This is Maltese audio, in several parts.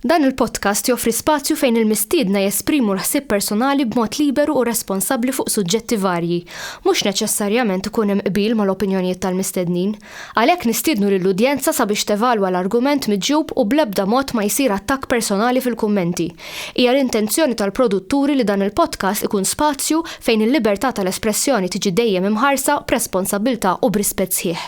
Dan il-podcast joffri spazju fejn il-mistiedna jesprimu l-ħsieb personali b'mod liberu u responsabbli fuq suġġetti varji. Mhux neċessarjament ikun hemm qbil mal-opinjonijiet tal-mistednin. Għalhekk nistiednu lill-udjenza sabiex tevalwa l-argument miġjub u bl-ebda mod ma jsir attakk personali fil-kummenti. Hija l-intenzjoni tal-produtturi li dan il-podcast ikun spazju fejn il-libertà tal-espressjoni tiġi dejjem imħarsa b'responsabbiltà u b'rispett sħiħ.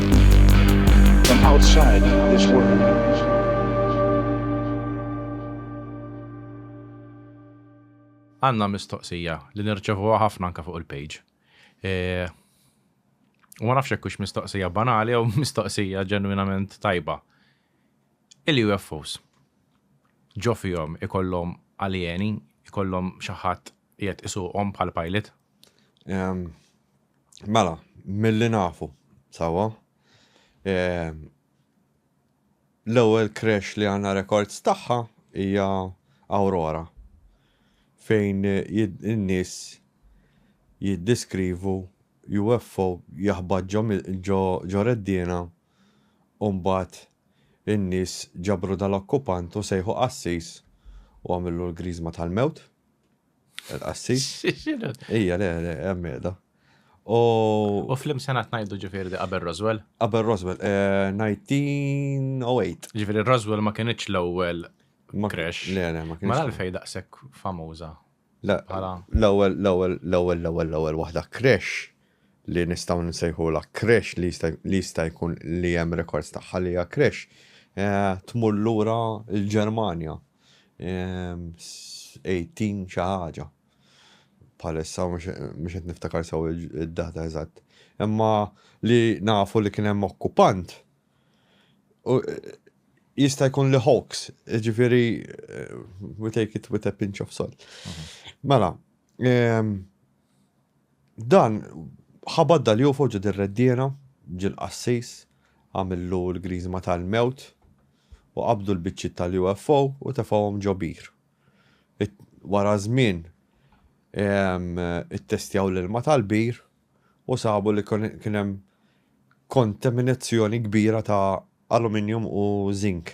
from outside this world. Għanna mistoqsija li nirċevuha ħafna anka fuq il-page. E, u ma nafx hux mistoqsija banali jew mistoqsija ġenwinament tajba. Il-UFOs ġo fihom ikollhom alieni, ikollhom xi ħadd Qiegħed isuqhom bħal pilot? Mela, milli nafu, sawa. L-ewwel crash li għandna rekords tagħha hija Aurora fejn in-nies jiddiskrivu UFO jaħbad ġo reddiena u mbagħad in-nies ġabru dal-okkupant u sejħu qassis u għamillu l-griżma tal-mewt. Il-qassi? Ija, le, le, għemmeda. U flim senat najdu ġifiri di qabel Roswell? Qabel Roswell, 1908. Eh, ġifiri Roswell ma kienieċ l-ewwel crash. Le, le, ma kienieċ. Ma l-fej daqsek famuża. L-ewwel, l-ewwel, l-ewwel, l-ewwel, l-ewwel waħda crash li nistaw nsejħu la crash li jista' jkun li hemm rekords tagħha li hija crash eh, tmur lura l-Ġermanja. 18 xi ħaġa. Bħalissa mhux qed niftakar sew id-data eżatt. Imma li nafu li kien hemm okkupant jista' jkun li hoax, ġifieri eh, we take it with a pinch of salt. Mhm. Mela, ehm, Dan ħa badda li hu fuq ġid ir-reddiena, ġie l-qassis, għamillu l-griżma tal-mewt, u qabdu l-biċċiet tal-UFO u tefgħuhom ġo bir. Wara żmien ittestjaw l-ilma tal-bir u sabu li kien hemm kontaminazzjoni kbira ta' aluminium u zink.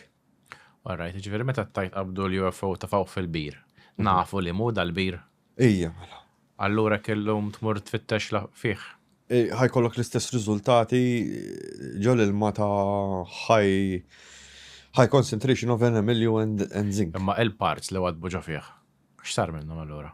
Alright, ġifieri meta tajt qabdu l-UFO ta' fawq fil-bir, mhm. nafu li mu dal-bir. Ija, mela. Allura kellum tmur tfittex fih. Ħajkollok l-istess riżultati ġol il-ma ta' ħaj high concentration of enamilju and, and zinc. Imma il-parts li għadbu ġo fih, x'sar minnhom allura?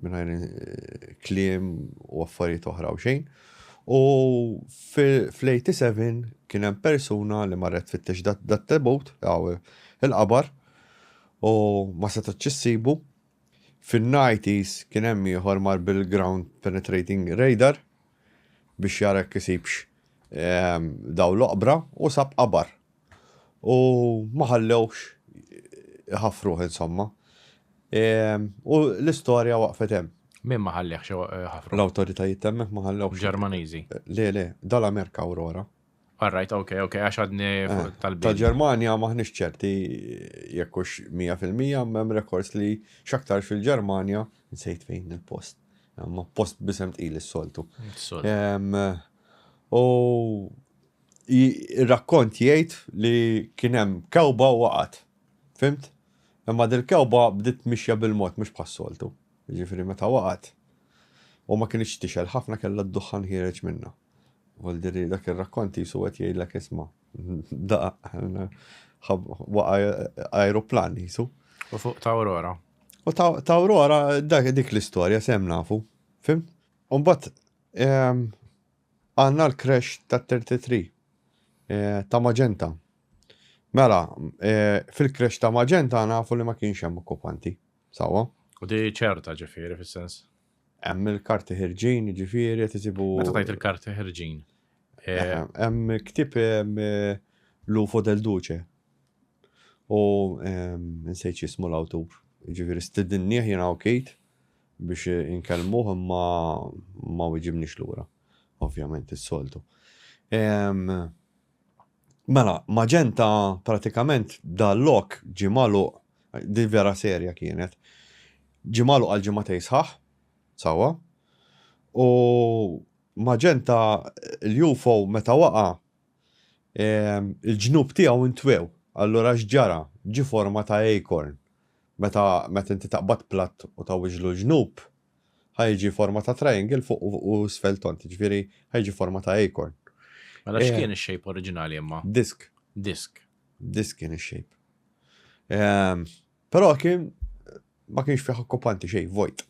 Mingħajr kliem u affarijiet oħra u xejn. U fl-87 kien hemm persuna li marret fit-tix dat-tebut, il-qabar, u ma setgħet ċissibu. Fin-90s kien hemm ieħor mar bil-ground penetrating radar, biex jara jekk isibx dawl l-oqbra u sab qabar. U ma ħallewx iħaffruh insomma. U l-istorja waqfet hemm. Min ma ħallehx iħaffruh? L-awtoritajiet temmek ma ħallewx. Ġermaniżi. Le, le, dal-Amerika Aurora. All right, ok, ok, għax għadni eh, tal Ta' Ġermanja maħnix ċerti jekkux 100% mem rekords li xaktarx fil-Ġermanja nsejt fejn il-post. Ma post bisem tqil is-soltu. U il-rakkont jgħid li kienem kewba waqat. Fimt? Imma dil-kewba bdiet mixja bil-mod mhux bħas-soltu. Ġifieri meta waqat u ma kienx tixel ħafna kellha d-duħħan ħireġ minna. Vuol dire dak ir-rakkont jisu qed jgħidlek isma' daqa' waqa' ajruplan jisu. U fuq ta' Aurora. U ta' Aurora dak dik l-istorja sem nafu. Fim? U mbagħad ehm, għandna l-crash ta' 33 eh, ta' Magenta. Mela, eh, fil-crash ta' Magenta nafu li ma kienx hemm okkupanti. Sawa? U di ċerta ġifieri fis-sens. Hemm il-karti ħirġin, jiġifieri qed isibu. Meta tajt il-karti ħirġin. Eh, hemm ktib eh, Lufo del Duce. U eh, nsejt jismu l-awtur. Jiġifieri stidinnieh jiena okejt biex inkellmuh imma ma wiġibniex lura. Ovvjament is-soltu. Mela, maġenta pratikament dal-lok ġie magħluq, di vera serja kienet, ġie magħluq għal ġimgħatej sħaħ, sawa, u maġenta l-UFO meta waqa' il-ġnub tiegħu ntwew. Allura x'ġara? Ġie forma ta' acorn. Meta meta inti taqbad platt u tgħawwiġlu l-ġnub, Ħa jiġi forma ta' triangle fuq u isfel tont, jiġifieri ħa jiġi forma ta' acorn. Mela eh, x'kien ix-shape oriġinali imma? Disk. Disk. Disk kien ix-shape. Ehm, però kien ma kienx fih okkupanti xejn vojt.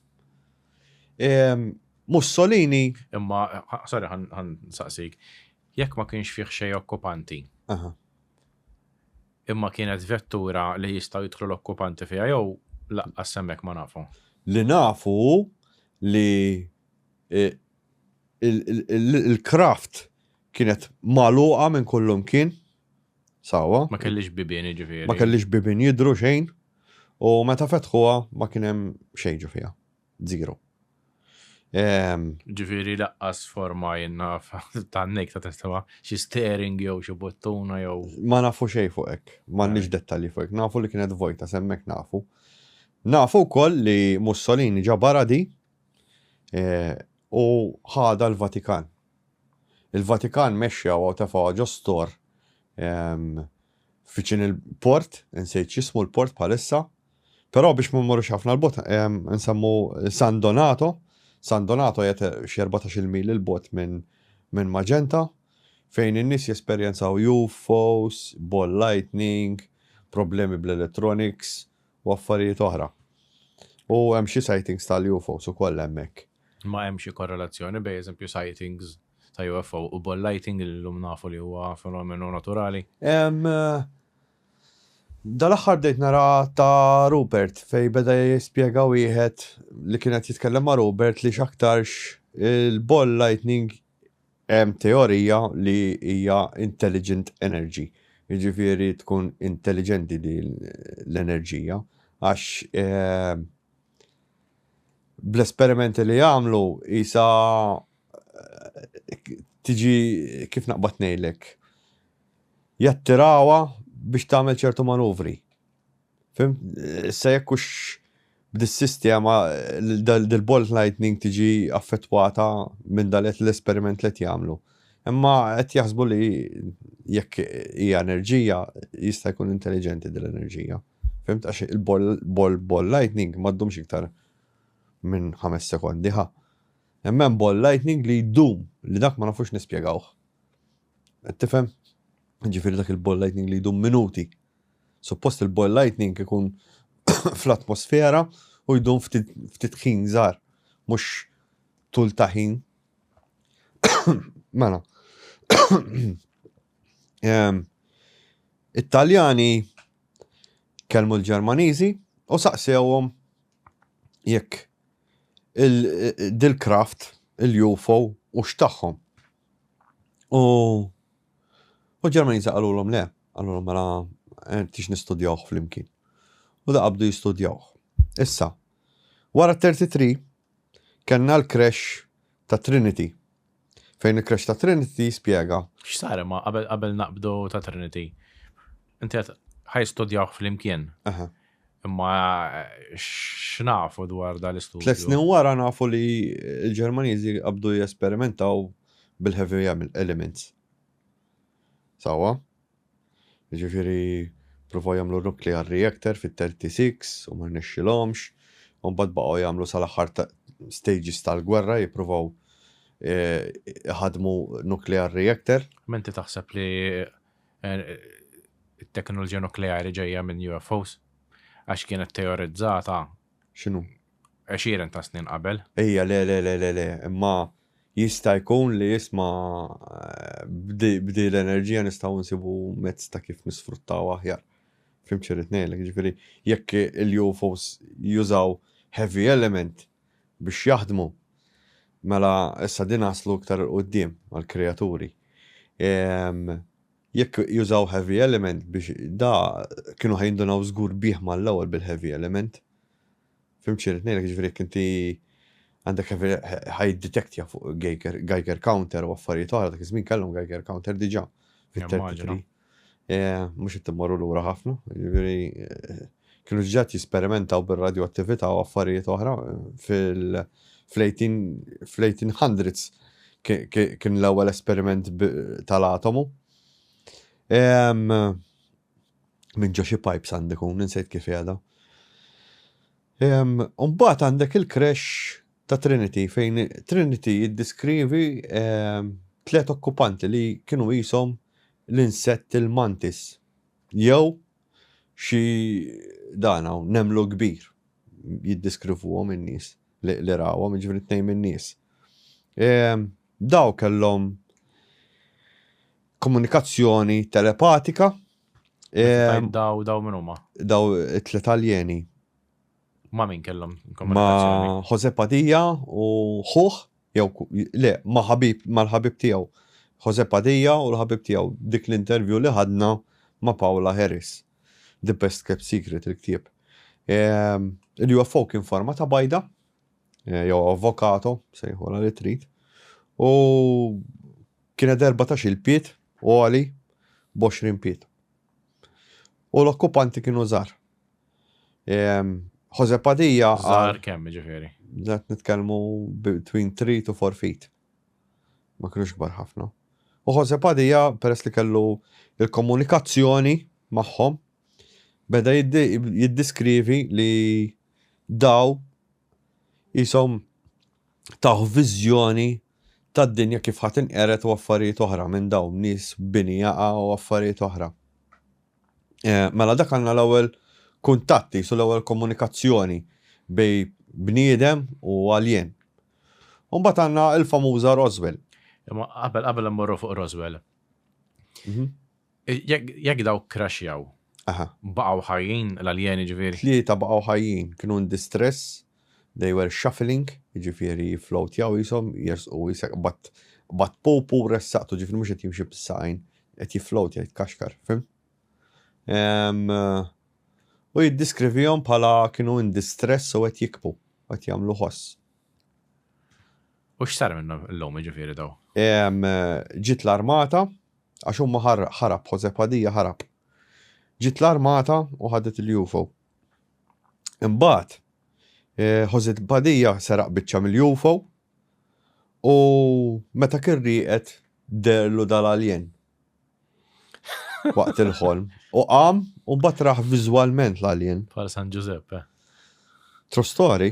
Ehm, Mussolini. Imma, sorry, għan saqsik, jekk ma kienx fih xejn okkupanti. Imma kienet vettura li jistgħu jidħlu l-okkupanti fiha jew laqqas hemmhekk ma nafu. Li nafu hu li l-craft kienet magħluqa minn kullimkien, sewwa. Ma kellhiex bibien jiġifieri. Ma kellhiex bibien jidhru xejn u meta fetħuha ma kien hemm xejn ġo fiha. Zero. Ehm. Ġifieri laqqas forma jien naf tan-nejk ta' testema, xi steering jew xi buttuna jew. Ma nafu xejn fuq hekk, m'għandniex dettalji fuq hekk. Nafu li kienet vojta, sa hemmhekk nafu. Nafu wkoll li Mussolini ġabarha di eh, u ħadha l-Vatikan. Il-Vatikan mexxewha u tefgħuha ġo stor ehm, viċin il-port, insejt x'jismu l-port bħalissa, però biex ma mmorrux ħafna l-bot nsemmu San Donato, San Donato jgħet xi 14-il mil il bot minn min Magenta, fejn in-nies jesperjenzaw UFOs, ball lightning, problemi bl-electronics u affarijiet oħra. U hemm xi sightings tal-UFOs ukoll hemmhekk. Ma hemm xi korrelazzjoni bejn eżempju sightings ta' UFO u ball lighting li llum nafu li huwa fenomenu naturali? Dal-aħħar bdejt nara ta' Rupert fejn beda jispjega wieħed li kien qed jitkellem ma' Rupert li x'aktarx il-ball lightning hemm teorija li hija intelligent energy. Jiġifieri tkun intelliġenti din l-enerġija għax bl-esperimenti li jagħmlu qisha tiġi kif naqbad ngħidlek jattirawha biex tagħmel ċertu manuvri. Fimt? Issa jekk hux b'dis-sistema dil-bolt lightning tiġi affettwata minn dan l-esperiment li qed jagħmlu. Imma qed jaħsbu li jekk hija enerġija jista' jkun intelliġenti din l-enerġija. Fimt għax il-ball ball lightning ma ddumx iktar minn ħames sekondi ħa. Imma hemm ball lightning li jdum li dak ma nafux nispjegawh. Qed tifhem? Ġifieri dak il-ball lightning li jdum minuti. Suppost il-ball lightning ikun fl-atmosfera u jdum ftit ħin żgħar, mhux tul ta' ħin Mela. Ehm, It-Taljani kelmu l-Ġermaniżi u saqsewhom jekk il-dil-kraft, il-UFO u x'tagħhom. U u Ġermaniżi qalulhom le, qalulhom mela eh, tix nistudjawh flimkien. U da qabdu jistudjawh. Issa, wara 33 Kellna l-crash ta' Trinity. Fejn il-crash ta' Trinity jispjega. X'sar imma qabel qabel naqbdu ta' Trinity? Inti għedt ħa jistudjawh flimkien. Aha. Imma x'nafu dwar dan l-istudju? Tliet snin wara nafu li l-Ġermaniżi qabdu jesperimentaw bil-heavy elements. Sewwa? Jiġifieri pruvaw jagħmlu nuclear reactor fit-thirty six u ma rnexxilhomx, u mbagħad baqgħu jagħmlu sal-aħħar stages tal-gwerra jippruvaw iħaddmu nuclear reactor. Imma inti taħseb li t-teknoloġija nukleari ġejja minn UFOs? Għax kienet teorizzata X'inhu? Għexieren ta' snin qabel. Ejja, le, le, le, le, le, imma jista' jkun li jisma' b'di l-enerġija nistgħu nsibu mezz ta' kif nisfruttaw aħjar. Fim xirrit ngħidlek, ġifieri jekk il-UFOs jużaw heavy element biex jaħdmu, mela issa din naslu iktar il-quddiem mal-kreaturi. Jekk jużaw heavy element biex da kienu ħa jindunaw żgur bih mal-ewwel bil-heavy element. Fim xi rrid ngħidlek, jiġifieri jekk inti għandek heavy ħa jiddetektja fuq Geiger counter u affarijiet oħra, dak iż-żmien kellhom Geiger counter diġà fit-33. Mhux qed immorru lura ħafna, jiġifieri Kienu diġà qed jesperimentaw bir-radjoattività u affarijiet oħra fl-1800s kien l-ewwel esperiment tal-atomu. Minn ġo xi pipes għandi kun, insejt kif qiegħda. U mbagħad għandek il-crash ta' Trinity fejn Trinity jiddiskrivi tliet okkupanti li kienu qishom l-insett il-mantis jew Xi dan hawn nemlu kbir, jiddiskrivuhom in-nies li rawhom, jiġifieri tnejn min-nies. Dawn kellhom komunikazzjoni telepatika. Dawn min huma? Dawn it-tliet aljeni. Ma' min kellhom Ma' Jose Padilla u ħuħ, jew le, ma' ħabib, mal-ħabib tiegħu. Jose Padilla u l-ħabib tiegħu dik l-intervju li ħadna ma' Paula Harris. The Best Kept Secret il-ktieb. Ehm, Il-UFO kien forma ta' bajda, eh, jew avvokato, sejħola li trid. U kienet 14 il-piet, u għali, 20 piet. U l-okkupanti kienu żgħar. Jose Padilla. Żgħar kemm ġifieri? Ġat nitkellmu between 3 to 4 feet. Ma kienux kbar ħafna. U Jose Padilla peress li kellu il-komunikazzjoni magħhom beda jiddiskrivi li daw jisom taħ viżjoni tad-dinja kif ħa tinqered u affarijiet oħra minn dawn nies bini jaqa' u affarijiet oħra. Mela dak għandna l-ewwel kuntatt qisu l-ewwel komunikazzjoni bejn bniedem u alien. U mbagħad għandna l-famuża Roswell. Imma qabel qabel immorru fuq Roswell. Jekk dawk crashjaw, baqgħu ħajjin l-aljeni ġifieri? Tlieta baqgħu ħajjin, kienu in distress, they were shuffling, jiġifieri jifflowtjaw qishom jersqu qisek qbadt qbadt pup u ressaqtu, ġifieri mhux qed jimxi bis-saqajn, qed jifflowtja jitkaxkar, fhimt? U jiddiskrivihom bħala kienu in distress u qed jikbu, qed jagħmlu ħoss. U x'sar minnhom illum jiġifieri dawn? Ġiet l-armata, Għax huma ħarab, Jose Padilla ħarab. Ġiet l-armata u ħadet il-UFO. Imbagħad, eh, Jose Padilla seraq biċċa mill-UFO u meta kien rieqed derlu dal-alien waqt il-ħolm. U qam u batraħ vizualment l-alien. Par San Giuseppe. True story.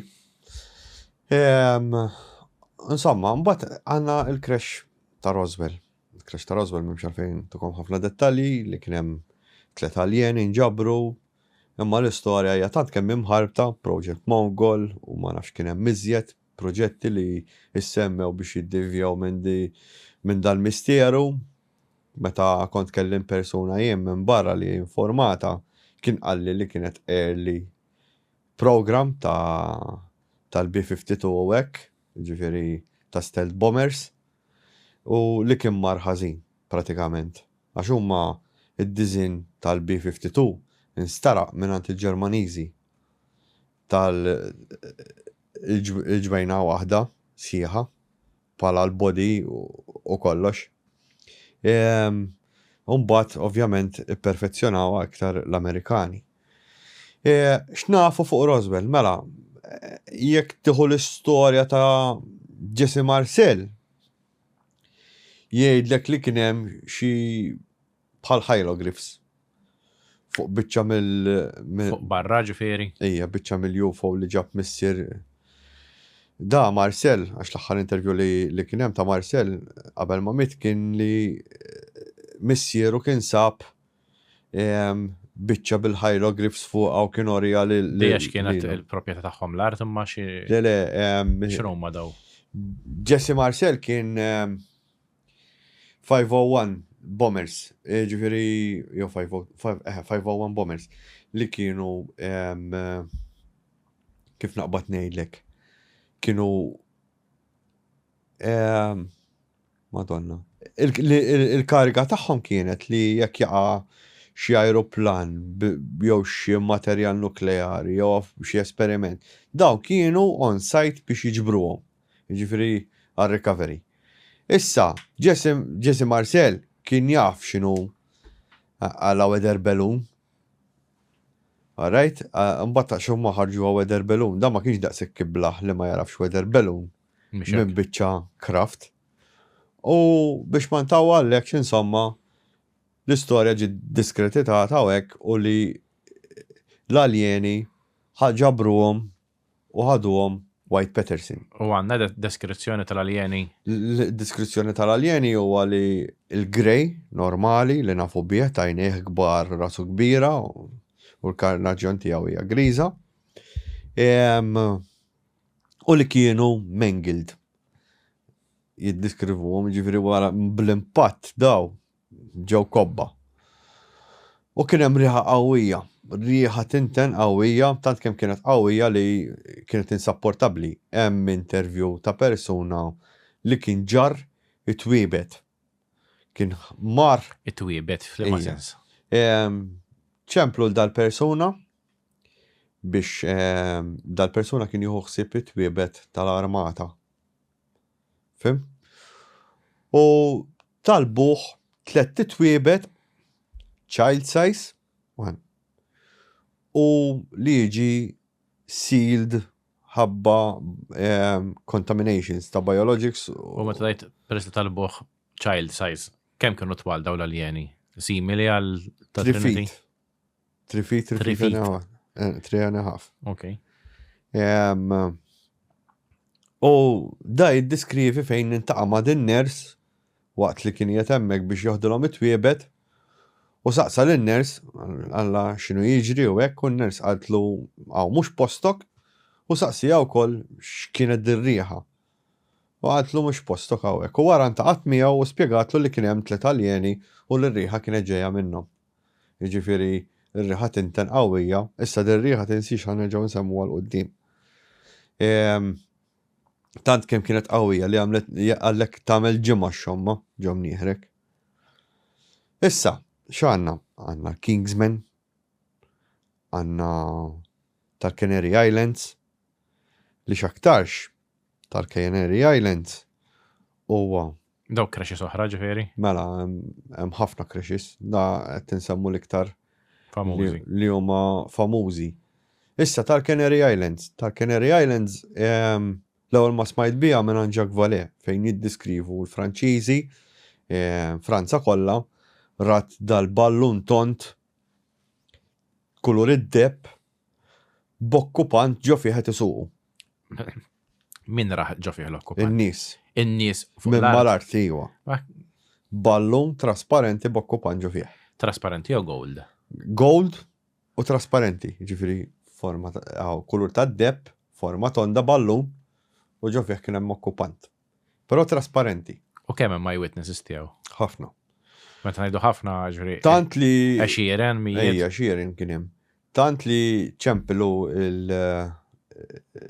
Insomma, mbagħad għandna il-crash ta' Roswell. Il-crash ta' Roswell m'hemmx għalfejn tukom ħafna dettalji li kien hemm tliet aljeni nġabru, imma l-istorja hija tant kemm hi mħarbta, Project Mogul u ma nafx kien hemm iżjed proġetti li issemmew biex jiddivjaw minn di minn dal-misteru. Meta kont kellimt persuna jien minn barra li hi informata kien qalli li kienet early program ta' tal-B-52 u hekk, jiġifieri ta' stealth bombers, u li kien mar ħażin, pratikament, għax huma d-diżinn tal-B-52 nsteraq mingħand il-Ġermaniżi tal il-ġbejna waħda sħiħa bħala l-body u kollox. Imbagħad ovvjament ipperfezzjonawha iktar l-Amerikani. X'nafu fuq Roswell? Mela, jekk tieħu l-istorja ta' Jesse Marcel, jgħidlek li kien hemm xi bħal hieroglyphs fuq biċċa mill fuq barra ġifieri. Ija, biċċa mill-UFO li ġab missier da Marcel, għax l-aħħar intervju li, li kien hemm ta' Marcel qabel ma mit kien li missieru kien sab biċċa bil-hieroglyphs fuqha u kien oriha lil. Dejjex kienet il-proprjetà tagħhom l-art imma xi. Le le. X'ruma daw? Jesse Marcel kien 501 Bombers, ġifieri jew 501 Bombers li kienu kif naqbad ngħidlek kienu Madonna. Il-kariga tagħhom kienet li jekk jaqa' xi ajruplan jew xi materjal nukleari jew xi esperiment, dawn kienu on site biex jiġbruhom, jiġifieri għar-recovery. Issa, Jesse Marcel kien jaf x'inhu għala weather balloon. All right? Imbagħad ta' xi huma ħarġuha weather balloon, dan ma kienx daqshekk iblah li ma jagħrafx weather balloon. minn biċċa kraft. U biex ma ntaw għallek insomma l-istorja ġi diskretitata u hekk u li l-aljeni ħagġabruhom u ħaduhom White Peterson. U għanna deskrizzjoni tal-aljeni? Deskrizzjoni tal-aljeni huwa li l-grej normali li nafu bih tajnieh kbar rasu kbira u l-karnaġjon tiegħu hija griża. u li kienu mangled jiddeskrivuhom ġifieri wara bl-impatt daw ġew kobba. U kien hemm riħa qawwija, riħa tinten qawwija, tant kemm kienet qawwija li kienet insapportabbli. Hemm intervju ta' persuna li kien ġarr it-twiebet. Kien mar. It-twiebet f'liema sens? Ċemplu l dal-persuna biex dal-persuna kien jieħu ħsieb it-twiebet tal-armata. Fim? U talbuh tlet titwiebet child size u li jiġi sealed ħabba ehm, contaminations ta' biologics. U ma tajt peress tal-buħ child size, kemm kienu twal daw l-aljeni? Simili għal ta' Trinity? 3 feet, 3 feet, feet. and a 3 eh, and a half. Ok. Um, u da jiddiskrivi fejn nintaqa ma' din ners waqt li kien jatemmek biex joħdilhom it-twiebet u saqsa l ners għalla xinu jiġri u hekk u n-ners għadlu għaw mhux postok u saqsi għaw kol x'kienet dirriħa. U għadlu mhux postok għaw hekk u wara ntaqat miegħu u spjegatlu li kien hemm tliet aljeni u l-riħa kienet ġejja minnhom. Jiġifieri, ir-riħa tinten qawwija, issa dir-riħa tinsiex ħa nerġgħu nsemmuha 'l quddiem. Tant kemm kienet qawwija li għamlet għalhekk tagħmel ġimgħa x-xomma ġo mnieħrek. Issa, x'għandna? Għandna Kingsman, għandna tal-Canary Islands, li x'aktarx tal-Canary Islands huwa Dawk crashes oħra ġifieri? Mela, hemm ħafna crashes, da qed tinsemmu l-iktar famużi li huma famużi. Issa tal-Canary Islands, tal-Canary Islands ehm, l-ewwel ma smajt biha minn Jacques Vallée fejn jiddiskrivu l-Franċiżi ehm, Franza kollha rat dal-ballun tont kulur id-deb b'okkupant ġo fih qed isuqu. Min ra ġo fih l-okkupant? In-nies. In-nies fuq l-art. Minn mal-art, iwa. Ballun trasparenti b'okkupant ġo fih. Trasparenti jew gold? Gold u trasparenti, ġifiri forma għaw kulur ta' depp, forma tonda ballun u ġo fih kien hemm okkupant. Però trasparenti. U kemm hemm eyewitnesses tiegħu? Ħafna. Meta ngħidu ħafna ġri. Tant li. Għaxieren mijiet. Ejja, għaxieren kien hemm. Tant li ċemplu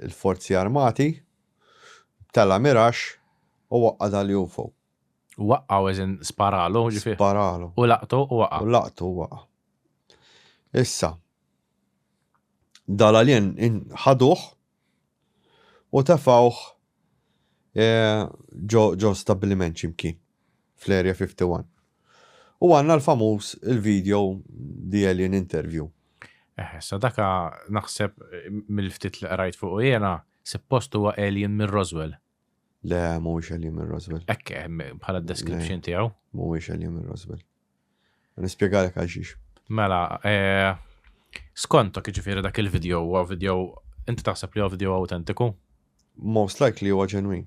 l-Forzi Armati, btala' mirax u waqqadha l-UFO. Waqqgħu as in sparalu, ġifieri. Sparalu. U laqtu u waqa'. U laqtu u waqa'. Issa, dal-alien ħaduh U tefgħuh ġo stabbiliment xi mkien fl-Area 51. U għandna l-famuż il-video The Alien Interview. Eħe, issa dak naħseb mill-ftit li qrajt fuqu jiena, suppost huwa alien minn Roswell. Le, mhuwiex Eliam minn Roswell. Ekke, bħala description tiegħu. Mhuwiex Eliam minn Roswell. Nispjegalek għal xiex. Mela, eh, skontok ġifieri dak il-video huwa video inti taħseb li huwa video autentiku? Most likely huwa ġenwin.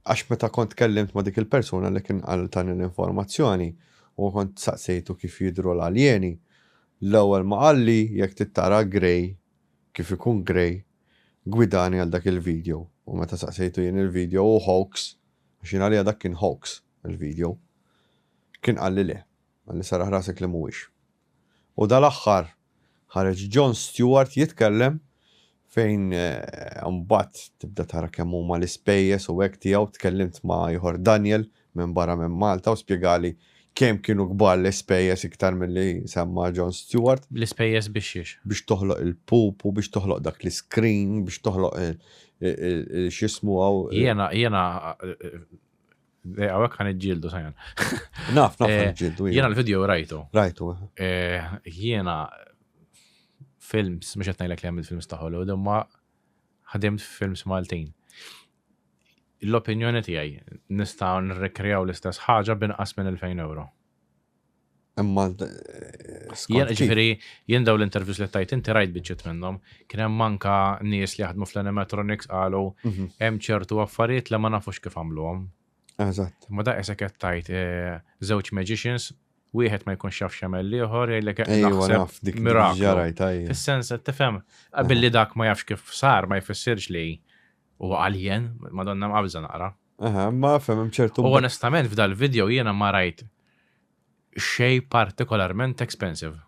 Għax meta kont kellimt ma' dik il-persuna li kien għal tani l-informazzjoni u kont saqsejtu kif jidru l-aljeni, l-ewwel ma qalli jekk tittara grey kif ikun grey Gwidani għal dak il-video. U meta saqsejtu jien il-video hu hoax, għax jien għalija dak kien hoax, il-video. Kien qalli le. Qalli serraħ rasek li mhuwiex. U dal-aħħar ħareġ Jon Stewart jitkellem fejn imbagħad tibda tara kemm huma l-ispejjeż u hekk tiegħu, tkellimt ma' ieħor Daniel minn barra minn Malta u spjegali kemm kienu kbar l-ispejjeż iktar milli semma Jon Stewart. L-ispejjeż biex xiex? Biex toħloq il-pupu, biex toħloq dak l-iscreen, biex toħloq x'jismu hawn. Jiena, jiena, hawnhekk ħa niġġieldu Sajan. Naf, naf niġġieldu. Jiena l-video rajtu. Rajtu. Jiena films, mhux qed ngħidlek li għamilt films ta' Hollywood, imma ħadimt films Maltin. L-opinjoni tiegħi, nista' nirrikreaw l-istess ħaġa b'inqas minn 2,000 ewro. Imma skont. Ġifieri jien daw l-interviews li tajt inti rajt biċċiet minnhom, kien hemm anka nies li jaħdmu fl-animatronics qalu mhm. hemm ċertu affarijiet li ma nafux kif għamluhom. Eżatt. Ma da isek qed tajt eh, żewġ magicians wieħed ma jkunx jaf x'jagħmel l-ieħor jgħidlek naħseb miraklu. Fis-sens qed tifhem billi dak ma jafx kif sar ma jfissirx li U għaljen, madonna mqabża naqra. Aha, ma fem ċertu. U onestament f'dal video jiena ma rajt xej partikolarment expensive.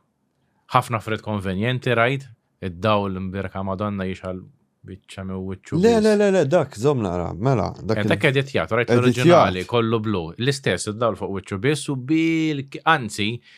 Ħafna fred konvenjenti rajt, id-dawl mbirka madonna jixal bieċa me wicċu. Le, le, le, le, dak, zom naqra, mela. Dak eh, dak editjat, rajt l-oriġinali, kollu blu. L-istess, id-dawl fuq wicċu biss u bil, anzi,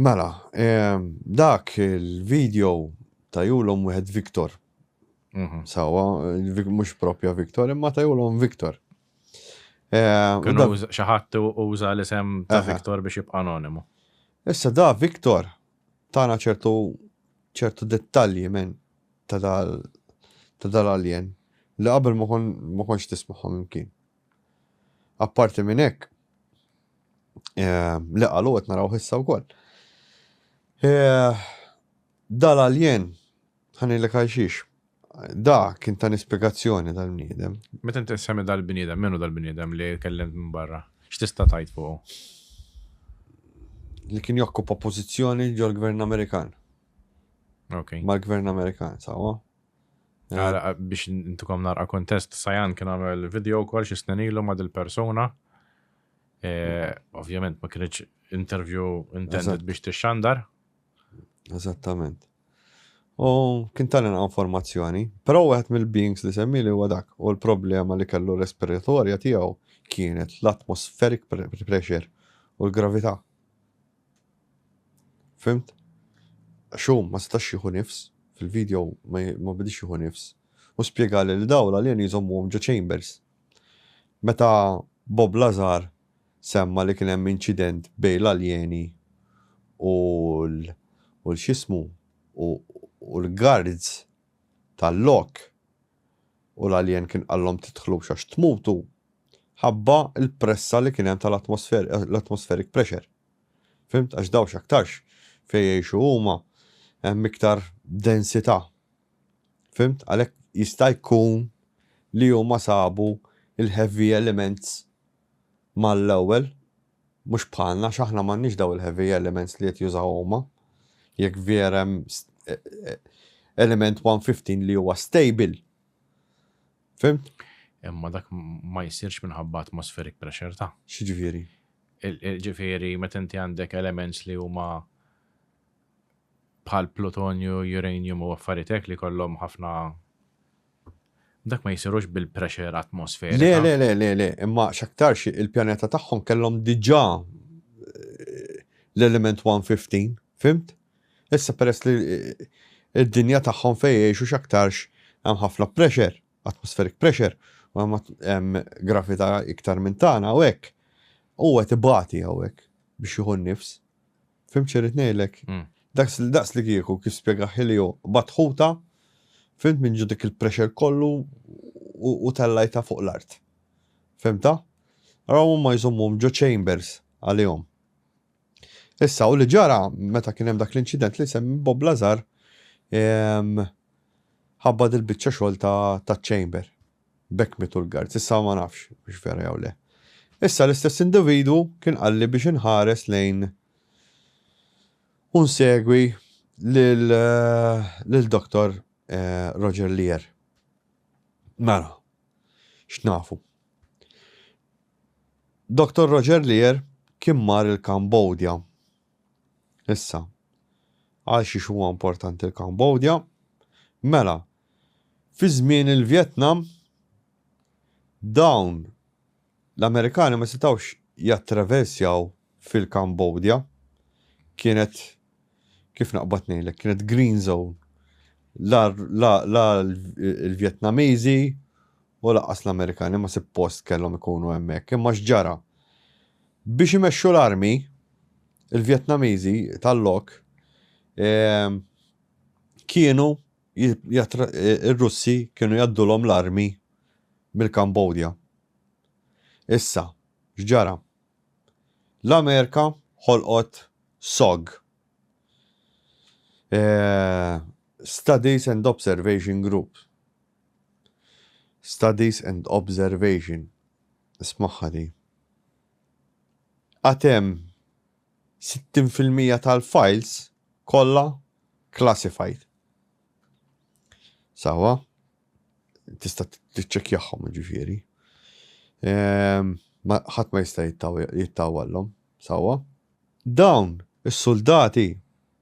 Mela, dak il-video tajulhom wieħed Victor. Mhm. Sawa, mhux propja Victor, imma tajulhom Victor. Kienu xaħat uża l-isem ta' Victor biex jibqa' anonimu. Issa da Victor tana ċertu ċertu dettalji minn ta' dal-alien li qabel ma konx tismaħħom imkien. Apparti minn hekk, li qalu qed narawh issa wkoll. Dal-aljen, ħanilek għal xiex, da kien ta' nispjegazzjoni dal-bniedem. Meta inti semmi dal-bniedem, minnu dal-bniedem li kellimt minn barra? X'tista' tgħid fuqu? Li kien jokkupa pożizzjoni ġol-Gvern Amerikan. Okay. Mal-Gvern Amerikan, sawa? Biex intukom narqa kontest, Sajan kien għamel video kol xi snin ilu ma' dil-persuna. E, ovvjament ma kienx interview intended biex tixxandar. Eżattament. U kien tal informazzjoni, però wieħed mill-beings li semmi li huwa dak u l-problema li kellu respiratorja tiegħu kienet l-atmospheric pressure u l-gravità. Fhimt? Għax hu ma setax jieħu nifs, fil-video ma bdiex jieħu nifs. Hu spjegali li dawn l-alieni jżommuhom ġo chambers. Meta Bob Lazar semma li kien hemm inċident bejn l-alieni u l-x'jismu u l-guards tal-lok, u l-alien kien qallhom tidħlux għax tmutu ħabba l-pressa li kien hemm tal-atmospheric pressure. Fhimt? Għax dawn x'aktarx fejn jgħixu huma hemm iktar densità. Fhimt? Għalhekk jista' jkun li huma sabu l-heavy elements mal-ewwel Mhux bħalna għax aħna m'għandniex dawn il-heavy elements li qed jużaw huma. Jekk vjera hemm element 115 li huwa stable. Fhimt? Imma dak ma jsirx minħabba atmospheric pressure ta'. X'ġifieri? Ġifieri meta inti għandek elements li huma bħal plutonju, uranium u affaritek li kollhom ħafna Dak ma jsirux bil-pressure atmosferiku. Le, le, le, le, le, imma x'aktarx il-pjaneta tagħhom kellhom diġà eh, l-element 115, fimt? Issa peress li eh, id-dinja tagħhom fejn jgħixu x'aktarx hemm ħafna pressure, atmospheric pressure, u hemm gravità iktar minn tagħna u hekk. U qed ibati hawnhekk biex jieħu n-nifs. Fim xirrit nejlek? Mm. Daqs li daqs li kieku kif spjega ħilju batħuta, fimt minn ġudik il-pressure kollu u tellajta fuq l-art. Fimta? Raw ma jżommum ġo chambers għalihom. Issa, u li ġara, meta kien hemm dak l-inċident li semmi Bob Lazar, ħabba dil-bicċa xogħol ta' chamber. B'hekk mietu l-guards. Issa ma nafx hux vera jew le. Issa l-istess individwu kien qalli biex inħares lejn u nsegwi lil Dottor Roger Lear. Mela, x'nafu. Dottor Roger Lear kien mar il-Kambodja. Issa, għal xiex huwa importanti l-Kambodja? Mela, fi żmien il-Vjetnam, dawn l-Amerikani ma setgħux jattraversjaw fil-Kambodja. Kienet, kif naqbad ngħidlek, kienet green zone. La, la, la l-Vjetnamiżi u laqas l-Amerikani ma suppost kellhom ikunu hemmhekk, imma x'ġara? Biex imexxu l-armi, il-Vjetnamiżi tal-lok kienu r-Russi kienu jgħaddulhom l-armi mill-Kambodja. Issa, x'ġara? L-Amerika ħolqot SOG, Studies and Observation Group, Studies and Observation, Ismagħha di. Għad hemm 60 fil-mija tal-files kollha classified. Sawa? Tista' tiċċekkjahom ġifieri. Ehm, ħadd ma jista' jittawallhom, sawa? Dawn is-suldati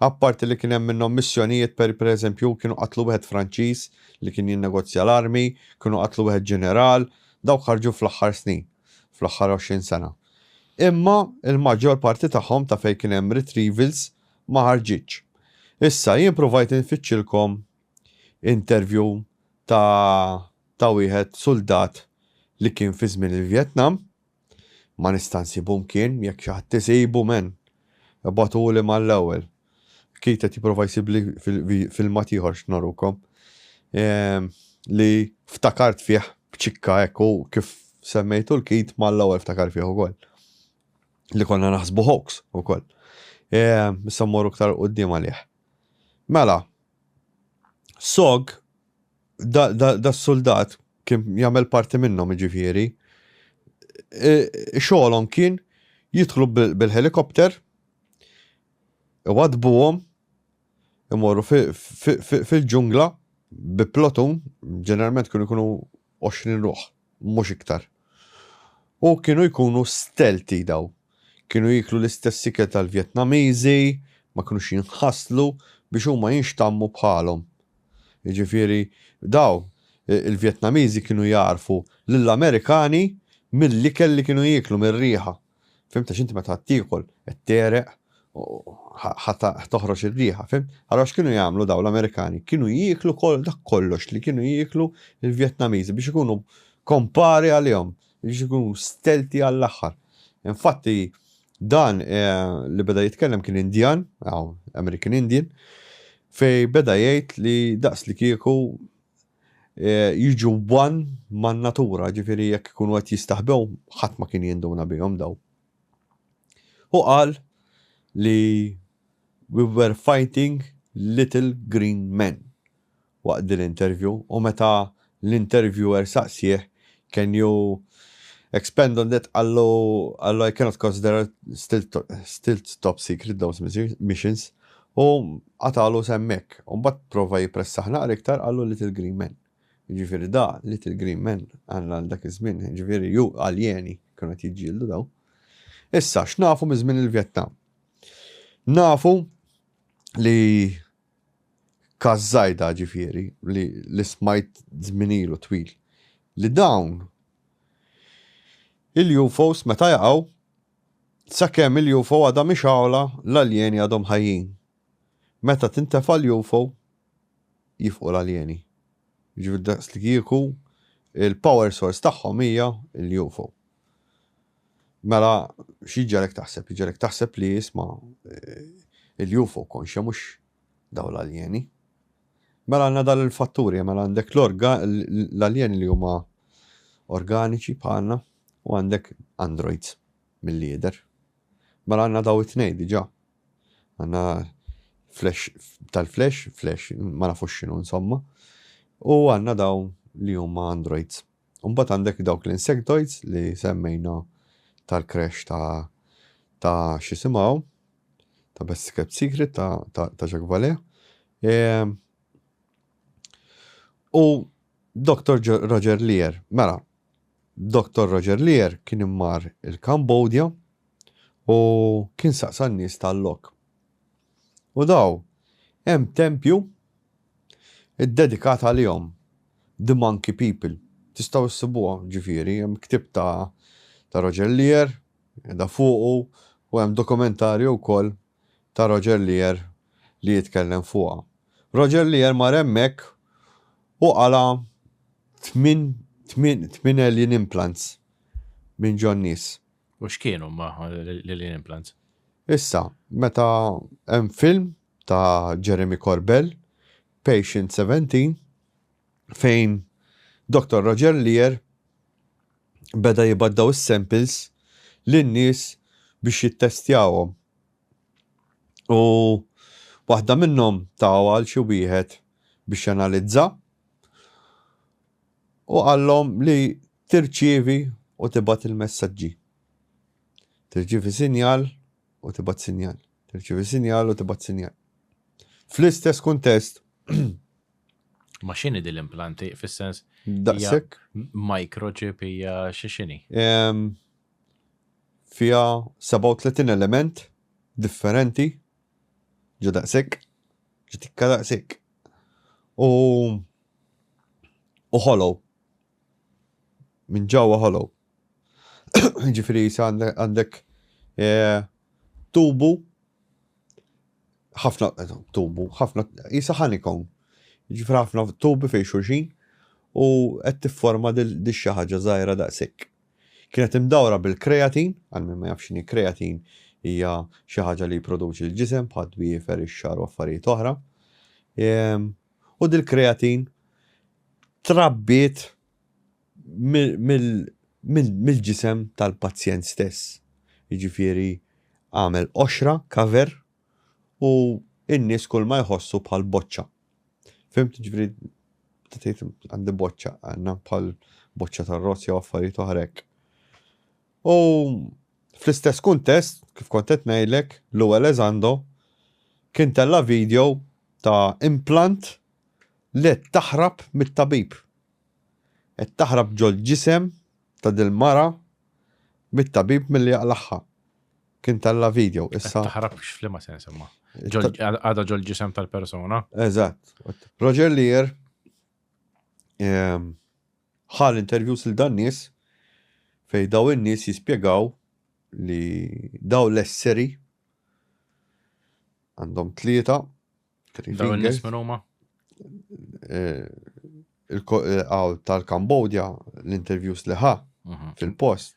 Apparti li kien hemm minnhom missjonijiet per pereżempju kienu qatlu wieħed Franċiż li kien jinnegozja l-armi, kienu qatlu wieħed ġeneral, dawk ħarġu fl-aħħar snin, fl-aħħar għoxrin sena. Imma l-maġġor parti tagħhom ta' fejn kien hemm retrievals ma ħarġitx. Issa jien pruvajt infittxilkom interview ta' ta' wieħed suldat li kien fi żmien il-Vjetnam, Ma nista' nsibu mkien, jekk xi ħadd isibu men, ibagħtuli mal-ewwel. Keith qed jipprova jsibli filmat ieħor x'norukom, li ftakart fih b'ċikka hekk u kif semmejtu 'l Keith mal-ewwel ftakar fih ukoll. Li konna naħsbu hoax ukoll. Issa mmorru iktar 'l quddiem għalih. Mela, sog. da s-suldat kien jagħmel parti minnhom jiġifieri, xogħolhom kien jidħlu bil-helikopter, iwadbuhom, imorru fil-ġungla bi plotun, ġeneralment kienu jkunu 20 ruħ. mhux iktar. U kienu jkunu stealthy daw. Kienu jieklu l-istess ikel tal-Vjetnamiżi, ma kinux jinħaslu biex huma jinxtammu bħalhom. Jiġifieri daw, il-Vjetnamiżi kienu jagħrfu lill-Amerikani mill-ikel li kienu jieklu, mir-riħa. Fimt għax inti meta tiekol qed tegħreq u ħa toħroġ ir-riħa, fimt? Allura x'kienu jagħmlu dawn l-Amerikani? Kienu jieklu kol dak kollox li kienu jieklu l-Vjetnamiżi biex ikunu kompari għalihom, biex ikunu stelti għall-aħħar. Infatti dan li beda jitkellem kien Indjan, American Indian, fej beda jgħid li daqs li kieku jiġu one man-natura, jiġifieri jekk ikunu qed jistaħbew ħadd ma kien jinduna bihom dawn. Hu qal li we were fighting little green men waqt din l-interview u meta l-interviewer saqsieh can you expand on that qallu I cannot consider still top secret those missions. U qatagħlu s'hemmhekk. U mbagħad prova jippressah naqra iktar qallu little green men. Jiġifieri da, little green men, għal dak iż-żmien, jiġifieri ju, aljeni kienu qed jiġġieldu dawn. Issa, x'nafu minn żmien il-Vjetnam? Nafu li Kazzajda ġifieri li li smajt żminilu twil li dawn il-UFOs meta jaqgħu Sakemm il-UFO għadha mixgħula, l-aljeni għadhom ħajjin. Meta tintefa' l-UFO, jifqu l-aljeni. Jiġifieri daqslikieku l-power source tagħhom hija l-UFO. Mela x'jiġġelek taħseb? Jiġġelek taħseb li isma' l-UFO konxja mhux dawn l-aljeni. Mela għandna dan il-fatturi, mela għandek l-aljeni li huma organiċi bħalna, U għandek Android milli jidher. Mela għandna dawn it-tnejn diġà. Għandna flash tal-flash, flash ma nafux x'inhu insomma, u għandna dawn li huma Android. U mbagħad għandek dawk l-insectoids li semmejna tal-crash ta' ta' xisimaw, ta' Best Kept Secret ta', ta, ta Jacques Vallée. E, u Dr. Roger Lear, mela, Dottor Roger Lear kien immar il-Kambodja u kien saqsa n-nies tal-lok. U daw, hemm tempju ddedikat għalihom, The Monkey People. Tistgħu ssibuha, ġifieri, hemm ktieb ta' Roger Lear, qiegħda fuqu, u hemm dokumentarju wkoll. ta' Roger Lear li jitkellem fuqha. Roger Lear mar hemmhekk u qala' tmien tmien alien implants minn ġo n-nies. U x'kienu huma l-alien implants? Issa, meta hemm film ta' Jeremy Corbell, Patient 17, fejn Doktor Roger Lear beda jibgħat dawn is-samples lin-nies biex jittestjahom. U waħda minnhom tawha għal xi wieħed biex janalizza u qallhom li tirċievi u tibgħat il-messaġġi. Tirċievi sinjal u tibgħat sinjal. Tirċievi sinjal u tibgħat sinjal. Fl-istess kuntest. Ma x'inhi din l-implanti fis-sens? Daqshekk. Microchip hija xi x'inhi? Fiha 37 element differenti ġo daqshekk, ġo tikka daqshekk. U u hollow. Minn ġewwa hollow. Ġifiri jisa għandek tubu ħafna tubu, ħafna jisa ħanikon. Ġifiri ħafna tubi fej xurxin u qed tifforma di xi ħaġa żgħira daqshekk. Kienet imdawra bil-kreatin, għal min ma jafx kreatin hija xi ħaġa li jipproduċi l-ġisem bħal twiefer ix-xar u affarijiet oħra. Ehm, u dil-kreatin trabbiet mill-ġisem tal-pazjent stess. Jiġifieri għamel qoxra, cover, u n-nies kulma jħossu bħal boċċa. Fhimt? Jiġifieri meta tgħid għandi boċċa, għandna bħal boċċa tar-rozz jew affarijiet oħra hekk. U fl-istess kuntest, kif kont qed ngħidlek, Lou Elizondo kien tella' video ta' implant Le qed taħrab mit-tabib. Qed taħrab ġol-ġisem ta' dil-mara mit-tabib milli jaqlagħha. Kien tella' video issa. Qed taħrab x'fliema sens imma? Għadha ġol-ġisem tal-persuna. Eżatt. Roger Lear ehm, ħal interviews il dan nies fej daw in-nies jispjegaw li daw l-esseri għandhom tlieta Dawn in-nies minn huma? Eh, eh, tal-Kambodja, l-interviews li ħa mhm. fil-post.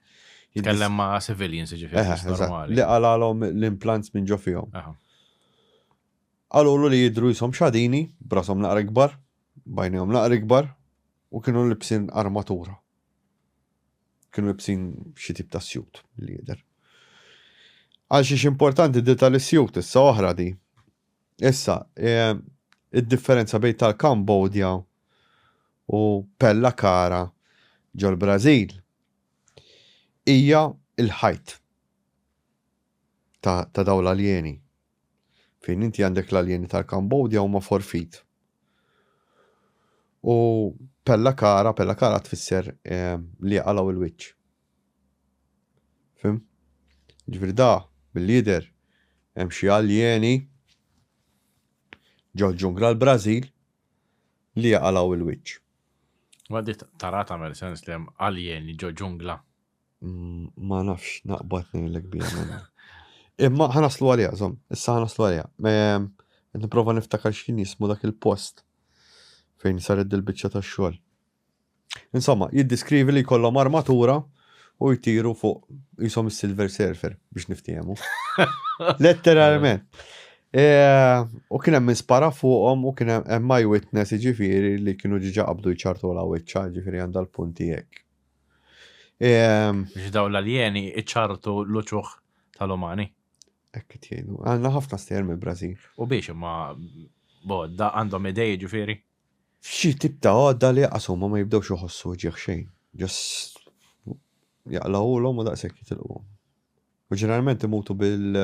Jitkellem ma' civilians, ġifiri. Li għalalom l-implants minn ġo fihom. Għalulu li jidru jisom xadini, brasom naqra ikbar, bajnijom naqra ikbar, u kienu libsin armatura. Kienu libsin xi tip ta' sjut li jidher. Għal xiex importanti di tal-isjut issa oħra di. Issa, id-differenza bejn tal-Kambodja u Pella Cara ġol-Brażil hija l-ħajt ta' dawn l-aljeni. Fejn inti għandek l-aljeni tal-Kambodja huma forfit. U pella kara, pella kara tfisser eh, li għalaw il-wiċċ. Fim? Ġifieri da, bil-lider, hemm xi aljeni ġol-ġungla l-Brażil li għalaw il-wiċċ. Ma di tara tagħmel sens li hemm aljeni ġo ġungla. Ma nafx, naqbad ngħidlek biha minna. Imma ħanaslu għalija, żomm, issa ħanaslu għalija. Ehm, qed nipprova niftakar x'kien jismu dak il-post fejn saret dil-biċċa tax-xogħol. Insomma, jiddiskrivi li jkollhom armatura u jtiru fuq jisom il-Silver Surfer biex niftijemu. Letteralment. E, u kien hemm spara fuqhom u kien hemm my witness ġifiri li kienu ġiġa qabdu jċartu la wiċċa ġifiri għandha l-punti hekk. Ehm, Biex daw l-aljeni iċartu l-uċuħ tal-umani. Ekk tjenu. Għanna ħafna stejjer mill-Brażil. U biex imma bodda għandhom idej ġifieri. Xi tip ta' għodda li jaqasu ma ma jibdewx iħossu ġieħ xejn. Just jaqlawhulhom u daqshekk jitilquhom. U ġeneralment imutu bil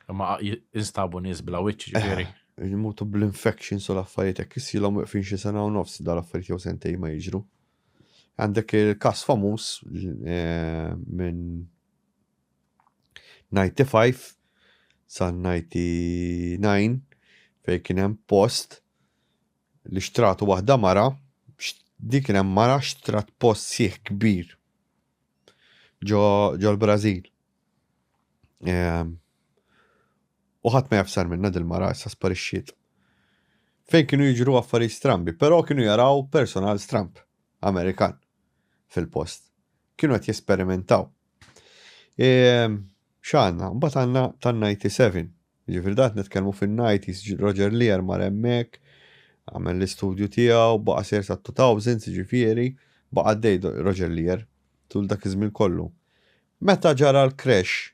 Ma instabu nies bla wiċċ ġifieri. Eh, Jmutu bl-infections u l-affarijiet hekk isilhom weqfin xi sena u nofs dal-affarijiet jew sentej ma jiġru. Għandek il-każ famuż eh, minn 95 sa 99 fej kien hemm post li xtratu waħda mara dik kien hemm mara xtrat post sieħ kbir ġo l-Brażil Ehm, u ħadd ma jafsar minna dil-mara issa sparixxiet. Fejn kienu jiġru affarijiet strambi, però kienu jaraw personal stramb Amerikan fil-post. Kienu qed jesperimentaw. Ehm, x'għandna, mbagħad għandna tan-97. Ġifieri dat nitkellmu fin-90s Roger Lear mar hemmhekk, għamel l-istudju tiegħu, baqa' ser sa 2000 ġifieri, baqa' dej Roger Lear tul dak iż-żmien kollu. Meta ġara l-crash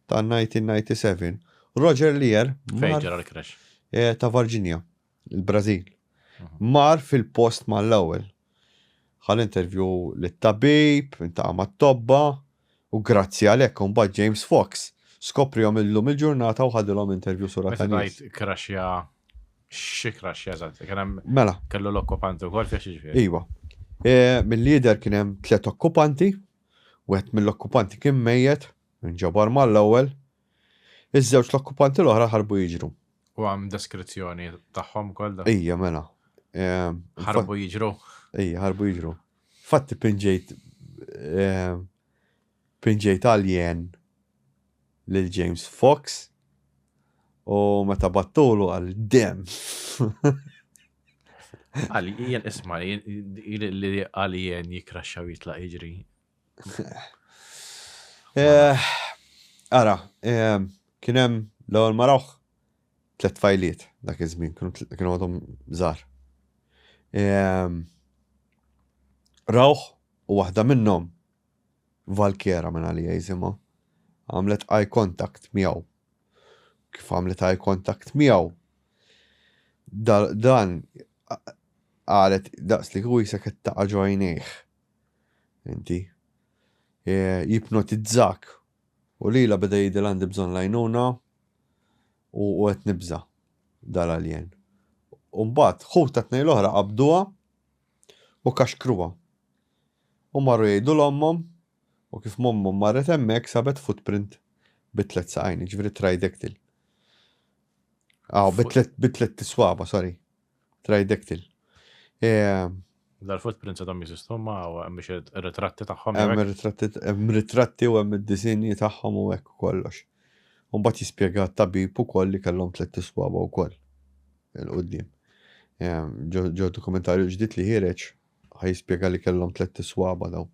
ta' 1997, Roger Lear mar. Fejn ġara l-crash? Eh, ta' Varginja, il-Brażil. Mar fil-post mal-ewwel. Ħal intervju lit-tabib, intaqa' mat-tobba, u grazzi għal hekk imbagħad James Fox skoprihom illum il-ġurnata u ħadilhom intervju sura ta' nies. Meta crashja xi crashja eżatt? Kien hemm Mela. Kellu l-okkupanti wkoll fih xi ġifieri? Iva. Eh, Mill-lider kien hemm tliet okkupanti, Wieħed mill-okkupanti kien mejjet, inġabar mal-ewwel. Iż-żewġt l-okkupanti l-oħra ħarbu jiġru. U hemm deskrizzjoni tagħhom ukoll da? Ija, mela. Ħarbu jiġru? Ija, ħarbu jiġru. Fatti pinġejt pinġejt alien lil James Fox u meta battulu għal dem. Għal jien isma' li għal jien jikraxxaw jitlaq jiġri. Eh, ara, eh, kien hemm l-ewwel marawh tliet fajliet dak iż-żmien kienu għadhom żgħar. Eh, rawh u waħda minnhom Valkyra minn għalija jisimha, għamlet eye contact miegħu. Kif għamlet eye contact miegħu, dan qalet daqs li kieku jisek qed taqa' ġo għajnejh. Inti. E, jipnotizzak. U lila beda jidil għandi bżonn lajnuna u qed nibża' dal-alien. Umbat, ħuta tnej l-oħra qabduha u kaxkruha. U marru jgħidu 'l ommhom, u kif mommhom marret hemmhekk sabet footprint bi tliet saqajn, jiġifieri tridactyl. Aw, bi tliet bi tliet swaba, sorry. Tridactyl. Dal-footprints għadhom jeżistu ma hemm biex ir-ritratti tagħhom. Hemm ir-ritratti hemm ritratti u hemm id-disinji tagħhom u hekk u kollox. U mbagħad jispjega t-tabib ukoll li kellhom tliet iswaba wkoll il-quddiem. Ġo dokumentarju ġdid li ħireġ Ħa jispjega li kellhom tlett iswaba dawn.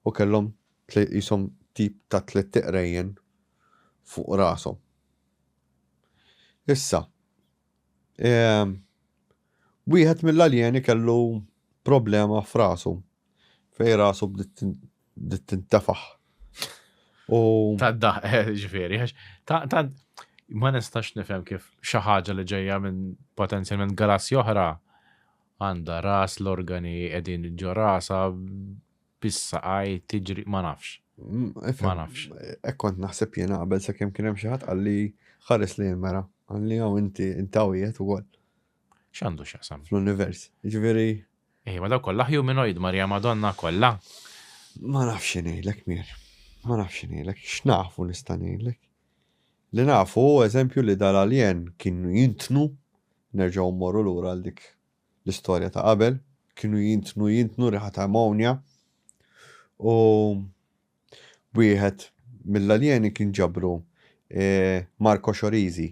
U kellhom qishom tip ta' tlett iqrejjen fuq rashom. Issa, wieħed mill-aljeni kellu problema f'rasu fejn rasu bdiet tintefaħ. Ta' daħ, eh, ġifieri, ta' ma nistax nifhem kif xi ħaġa li ġejja minn potenzjalment galassi oħra Għandha ras, l-organi qegħdin ġo rasha, bis-saqaj, tiġri, ma nafx. Ma nafx. Hekk kont naħseb jiena qabel sakemm kien hemm xi ħadd qalli ħares li l-mera, qalli hawn inti intawiet ukoll. X'għandu x'jaqsam? Fl-univers. Ġifieri. Ej, ma daw kollha humanoid Marja Madonna kollha. Ma nafx ngħidlek mir. Ma nafx ngħidlek, x'nafu nista' ngħidlek. Li nafu, eżempju li dal-alien kienu jintnu Nerġgħu mmorru lura għal dik l-istorja ta' qabel, kienu jintnu jintnu riħa ta' ammonja u wieħed mill-aljeni kien ġabru Marco Xorizi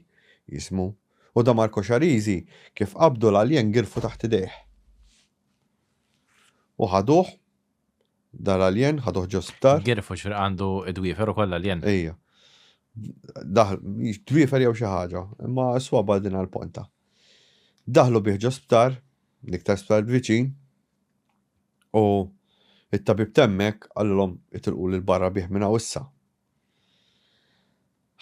jismu u da Marco Xarizi kif qabdu l-aljen girfu taħt idejh u ħaduh Dar alien, ħaduh ġo sptar. Girfu ġifieri għandu d-dwiefer ukoll alien. Ejja. Daħl, dwiefer jew xi ħaġa, imma s-swaba din għall-ponta. Daħlu bih ġo sptar, l-iktar sptar viċin, u it-tabib temmek għallilhom itilqu lil barra bih minn hawn issa.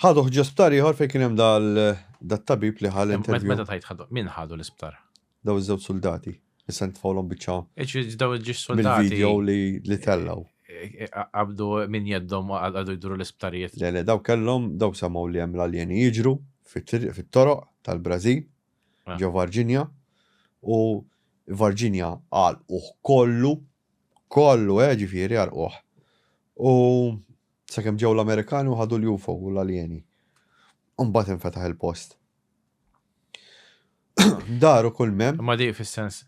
Ħaduh ġo sptar ieħor fejn kien hemm dat-tabib li ħa l-interview. Meta tgħid ħaduh, min ħadu l-isptar? Daw iż-żewġ suldati. Issa nitfgħulhom biċċa. Iġifieri daw il-ġiex suldati. Video li tellgħu. Qabdu minn jeddhom għadu jduru l-isptarijiet. Le, le, daw kellhom, daw semgħu li hemm l-aljeni jiġru fit-toroq tal-Brażil, ġo Varġinja, u Varġinja għalquh kollu Kollu, eh, ġifieri, għarquh. U sakemm ġew l-Amerikani u ħadu l-UFO u l-aljeni. U mbagħad infetaħ il-post. Daru kull mem. Ma di fis-sens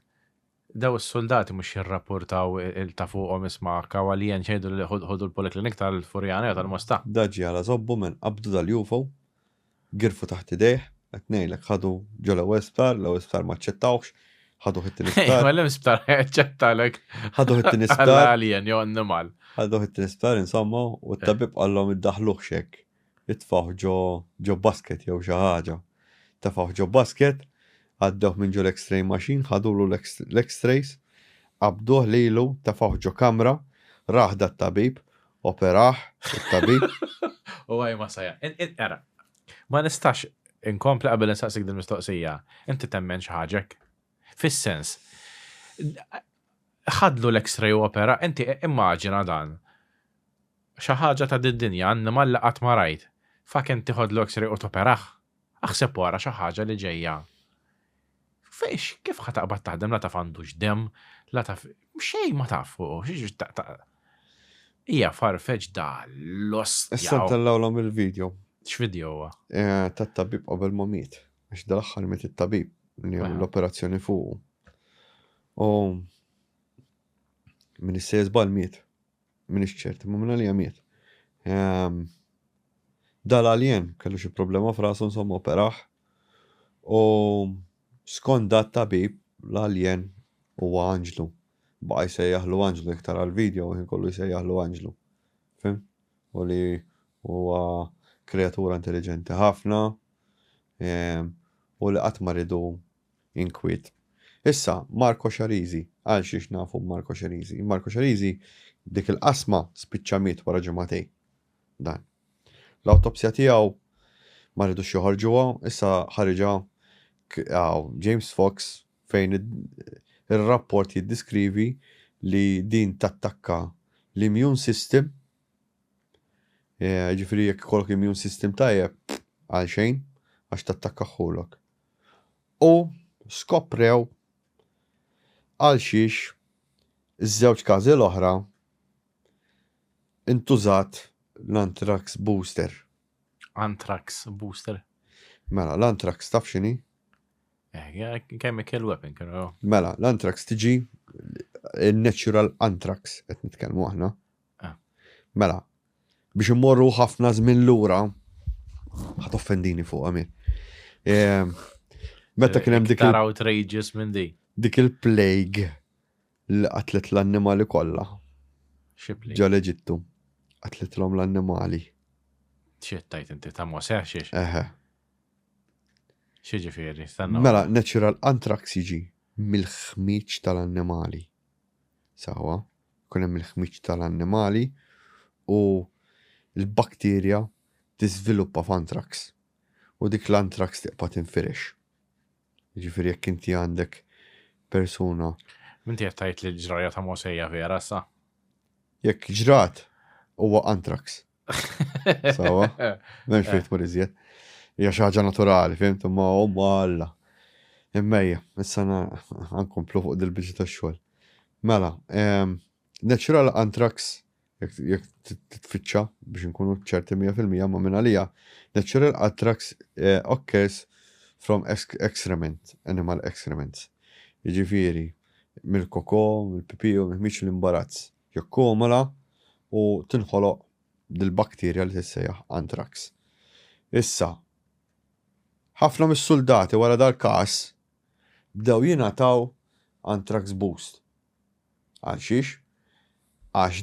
daw is-soldati mhux jirrapportaw il-ta' fuqhom isma' kawalien ċejdu li ħodu l-poliklinik tal-Furjana jew tal-Mosta. Daġi għala żobbu minn qabdu dal-UFO Girfu taħt idejh, qed ngħidlek ħadu ġo l-ewwel sptar, l-ewwel sptar ma ċċettawx, ħadu ħit-tieni sptar. Ma l-hemm sptar ċċettalek. Ħadu ħit-tieni sptar. Alien jew annimal. Ħadu ħit-tieni sptar insomma u t-tabib qallhom iddaħluh xek. Itfaħ ġo ġo basket jew xi ħaġa. Tafaħ ġo basket, għaddew minn ġo l-X-ray machine, ħadulu l-X-rays, qabduh lilu, tafaħ ġo kamra, raħda t-tabib Operah it-tabib? U għaj ma saja. Era, ma nistax inkompli qabel insaqsik din mistoqsija. Inti temmen xi ħaġek? Fis-sens, ħadlu l-X-ray u opera, inti immaġina dan. Xi ħaġa ta' did-dinja, annimal li qatt ma rajt. Faken tieħodlu X-ray u toperah. Aħseb u ara xi ħaġa li ġejja. Fiex, kif ħa taqbad taħdem la taf għandux dem, la taf xejn ma taf fuq, xiex taqta. Ija farfeġ da l-ost. Issa tellawlhom il-video. X'video huwa? Eh, tat-tabib qabel ma miet. Għax dal-aħħar miet it-tabib li għamlu l-operazzjoni fuq. U minn is-sejs bal miet. minix ċert, imma minn għalija miet. Ehm, Dal-alien kellu xi problema f'rasu insomma operaħ u skont dat tabib l-alien huwa anġlu. Baqa jsejjaħlu anġlu iktar għal-video u kollu jsejjaħlu anġlu. Fim? U li huwa kreatura intelligenti ħafna ehm, u li qatt ma ridu inkwiet. Issa, Marco Xarisi, għal xiex nafu Marco Xarisi? Marco Xarisi dik il-qasma spiċċa miet wara ġimagħtejn. Dan. L-awtopsja tiegħu ma ridux joħorġuha, issa ħariġha James Fox fejn ir-rapport jiddiskrivi li din tattakka l-immune system, eh, ġifiri jekk kollok immune system tajjeb għal xejn għax tattakka ħulok. u skoprew għalxiex iż-żewġ każi l-oħra intużat l-anthrax booster. Anthrax booster. Mela, l-anthrax taf xini? Eh, chemical weapon, kienu. Mela, l-anthrax tiġi il-natural anthrax, qed nitkellmu aħna, Mela, biex immorru ħafna żmien lura, ħat offendini fuq għami. Ehm, meta kien hemm dik. Tara outrageous minn di. Dik il-plague li qatlet l-annimali kollha. Xipli. Ġa l-Eġittu. Qatlitlhom l-annimali. Xittajt inti ta' Mosè xiex. Eħe. Xieġifieri, stanna. Mela, natural anthrax jiġi mill-ħmieġ tal-annimali. sewwa, ikun hemm il-ħmieġ tal-annimali u l-bakterja tiżviluppa f'antrax u dik l-antrax tiqpa' tinfirex. Jiġifieri jekk inti għandek persuna. Inti qed tgħid li l-ġrajja ta' Mosè hija vera sa? Jekk ġrat huwa antrax. Sawa. Mem xejn tmur iżjed. Hija xi ħaġa naturali, fimt, imma huma alla. Immejja, issa nkomplu fuq dil-biġi tax-xogħol. Mela, ehm, natural anthrax jek titfittxa biex nkunu ċerti 100% ma minna lija, natural attrax eh, occurs from excrement, animal excrements. Iġifiri, mill-koko, mill-pipiju, mill-miċ l-imbarazz. jikkumula u tinħoloq dil-bakterja li tissejjaħ anthrax. Issa, ħafna mis-suldati wara dal-każ bdew jingħataw anthrax boost. Għal xiex? Għax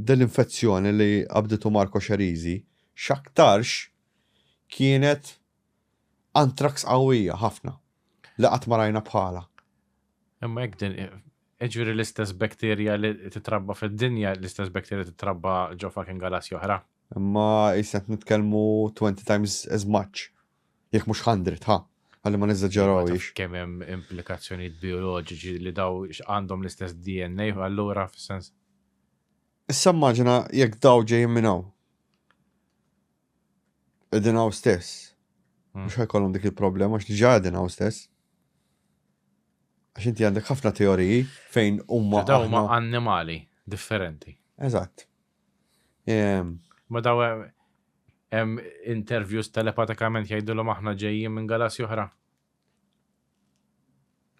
dil-infezzjoni li qabditu Marco Xerizi x'aktarx kienet anthrax qawwija ħafna li qatt ma rajna bħalha. Imma jekk din jiġifieri l-istess bakterja li titrabba fid-dinja, l-istess bakterja titrabba ġo fucking galassja oħra. Imma qisna qed nitkellmu twenty times as much, jekk mhux hundred, ħa, ħalli ma neżaġġerawhiex. Kemm hemm implikazzjonijiet bijoloġiċi li daw għandhom l-istess DNA allura fis-sens. Issa immaġina jekk daw ġejjin minn hawn. Qegħdin hawn stess. Hmm. Mhux ħajkollhom dik il-problema għax diġà qegħdin hawn stess. Għax inti għandek ħafna teoriji fejn huma. Daw huma annimali differenti. Eżatt. Ehm, Ma daw hemm interviews telepatikament jgħidulhom aħna ġejjin minn galassi oħra.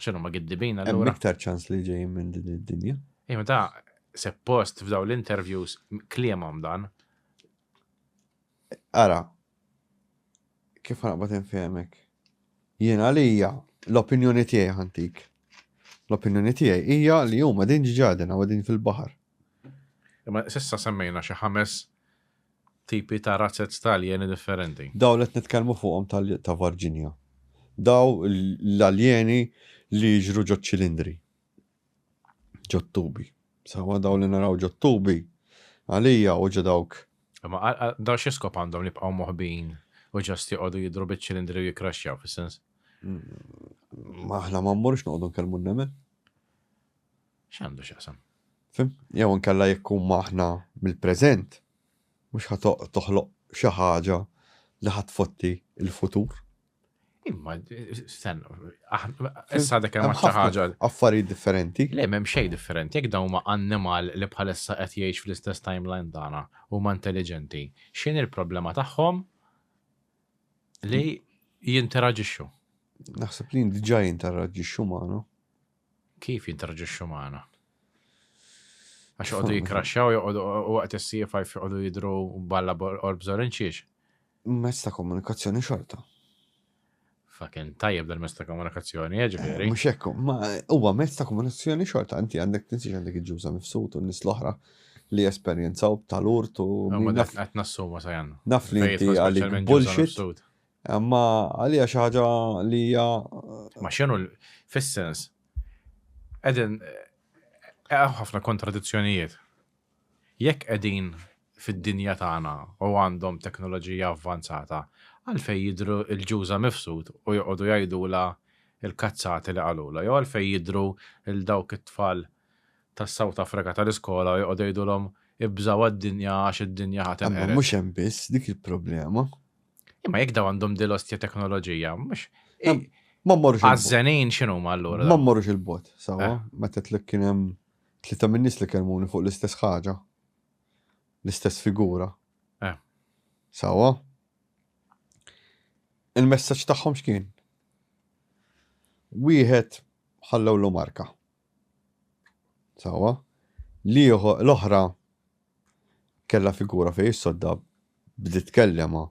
X'inhu ma giddibina l Hemm iktar ċans li ġejjin minn din id-dinja. Imma ta' seppost f'daw l-interviews kliemhom dan Ara, kif ħanaqbad infehmek? Jien għalija l-opinjoni tiegħi ħantik. L-opinjoni tiegħi hija li huma din ġġaden u din fil-baħar. Imma sissa semmejna xi ħames tipi ta' razzet ta' aljeni differenti. Daw li qed nitkellmu fuqhom ta' Varġinja. Daw l-aljeni li jiġru ġo ċilindri. Ġottubi. Sawa daw li naraw ġottubi għalija u ġedawk. Ma daw xiskop għandhom li bqaw moħbin u ġast joqodu jidru biċ-ċilindri u jikraxxjaw fis-sens? Ma aħna ma mmurx noqogħdu nkellmu n-nemel. X'għandu x'jaqsam? Fim? Jew nkella jekk huma aħna mill-preżent mhux ħa toħloq xi ħaġa li ħadd fotti il-futur. Imma, sen, issa dak hemm xi ħaġa. Affarijiet differenti. Le, m'hemm xejn differenti, jekk dawn ma' annimal li bħalissa qed jgħix fl-istess timeline tagħna huma intelliġenti. X'in il-problema tagħhom li jinteraġixxu? Naħseb li diġà jinteraġixxu magħna. Kif jinteraġixxu magħna? Għax joqogħdu jikraxxaw, joqogħdu waqt is-siefa joqogħdu jidru balla orbżor inċiex. Mezz ta' komunikazzjoni xorta. Fucking tajjeb dan mezz ta' komunikazzjoni, eh, ġifieri. Mhux hekk, ma huwa mezz ta' komunikazzjoni xorta, inti għandek tinsiex għandek il-ġuża mifsud u n-nies l-oħra li jesperjenzaw tal-urt u Ma min dak naf qed nassuma sa janna. naf li Fejn inti jitħoss għalik speċjalment ġuża bullshit, mifsud. imma għalija xi ħaġa li hija Ma x'inhu l- fis-sens qegħdin hemm ħafna kontradizzjonijiet. Jekk qegħdin fid-dinja tagħna u għandhom teknoloġija avvanzata, għalfejn jidhru l-Ġuża mifsud u joqogħdu jgħidulha l-kazzati li qalulha? Jew għalfejn jidhru 'l dawk it-tfal tas-South Africa tal-iskola u joqogħdu jgħidulhom 'ibżgħu għad-dinja għax id-dinja ħa tinqered'? Imma mhux hemm biss dik il-problema. Imma jekk dawn għandhom din l-ostja teknoloġija, mhux. Ma mmorrux. Għażżenin x'inhuma allura? Ma mmorrux il-bogħod, sewwa. Meta tlek kien hemm Tlieta min-nies li kellmuni fuq l-istess ħaġa. L-istess figura. Eh. Sawa? Il-messaġġ tagħhom x'kien? Wieħed ħallewlu marka. Sawa? L-oħra kella figura fej sodda bdiet kellema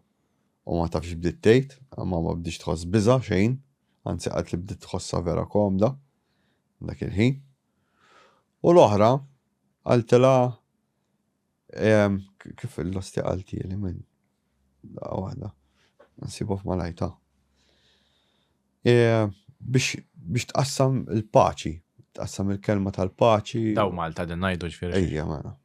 u ma tafx bdiet tgħid, ma ma bdiex tħoss biża xejn, anzi qatt li bdiet tħossha vera komda dak il-ħin. U l-oħra qaltilha kif l-osti qaltieli minn daqqa waħda. Nsibu f'malajta. Biex tqassam il-paċi, tqassam il-kelma tal-paċi. Daw Malta din ngħidu ġifieri. Ejja mela.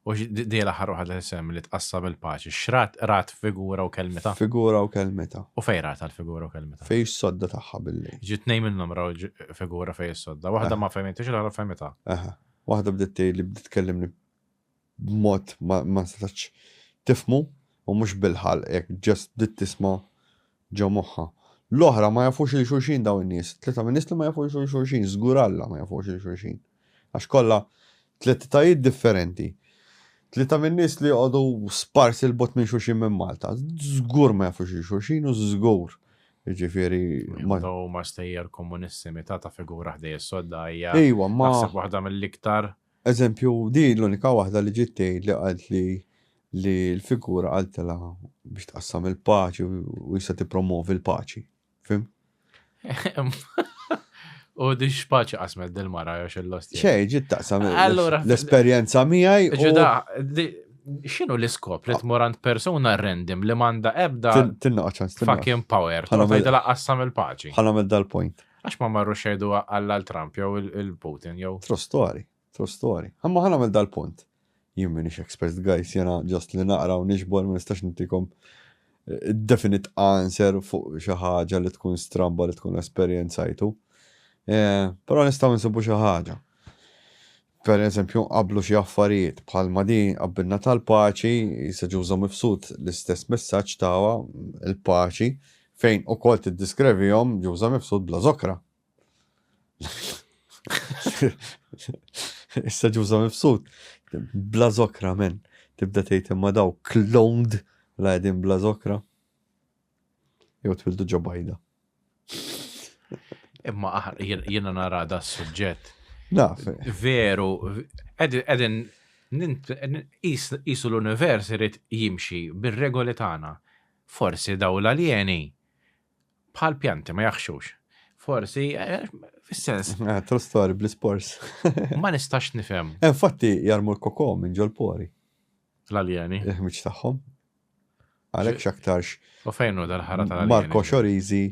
U di l-aħħar waħda li sem li tqassam il-paċi, xrat rat figura u kelmita. Figura u kelmita. U fej rat għal-figura u kelmita. Fej sodda taħħa billi. Ġit nej minnhom raw figura fej sodda, waħda ma fehmitix l-għara fehmita. Aha, waħda bdiet li bdiet kellimni b'mod ma setax tifmu u mhux bil-ħal, jekk ġest bdiet tisma' Ġo moħħha. L-oħra, ma jafux lil xulxin dawn in-nies. It-tlieta ministri ma jafux lil xulxin, żgur Alla ma jafux lil xulxin. Għax kollha tliet etajiet differenti. Tlieta min-nies li joqogħdu sparsi 'l bogħod minn xulxin minn Malta. Żgur ma jafux lil xulxin u żgur, jiġifieri, ma. Huma stejjer komunisti, meta ta' figura ħdejja s-sodda hija naħseb waħda mill-iktar Eżempju, din l-unika waħda li ġiet tgħidli qaltli li l-figura qaltilha biex tqassam il-paċi u issa tippromovi l-paċi. Fim? U di x'paċi qasmet dil-mara jew xil-lost. Xej, ġiet taqsam l-esperjenza miegħi. Ġuda, x'inhu l-iskop li tmur għand persuna rendim li m'għandha ebda fucking power. Ħana tgħidilha qassam il-paċi. Ħana dal-point. Għax ma marru xejdu għall Trump jew il-Putin jew. True story, true story. Għamma ħana għamil dal-punt. Jien minix expert guys, jena ġast li naqra u nixbol, ma nistax nintikom eh, definite answer fuq xi ħaġa li tkun stramba li tkun esperjenzajtu. Eh, però nistgħu nsibu xi ħaġa. Pereżempju, nqabblu xi affarijiet, bħalma din qabbilna tal-paċi, Għisa Ġuża Mifsud l-istess messaġġ taha, il-paċi, fejn ukoll tiddiskrevihom Ġuża Mifsud bla żokra. Issa Ġuża Mifsud bla żokra men, tibda tgħid imma daw cloned la qegħdin bla żokra. Jew twildu ġo bajda. Imma ah, jiena nara da s-suġġett. Naf. Veru, edin jisu l-univers irid jimxi bir-regoli tagħna. Forsi daw l-aljeni bħal pjanti ma jaħxux. Forsi, eh, fis-sens. Eh, true story, bl spors Ma nistax nifhem. Eh, infatti, jarmu l-koko minn ġol-pori. L-aljeni. Iħmiċ tagħhom. Għalhekk x'aktarx. U fejn hu dal-ħara tal-alien? Marco Xorizi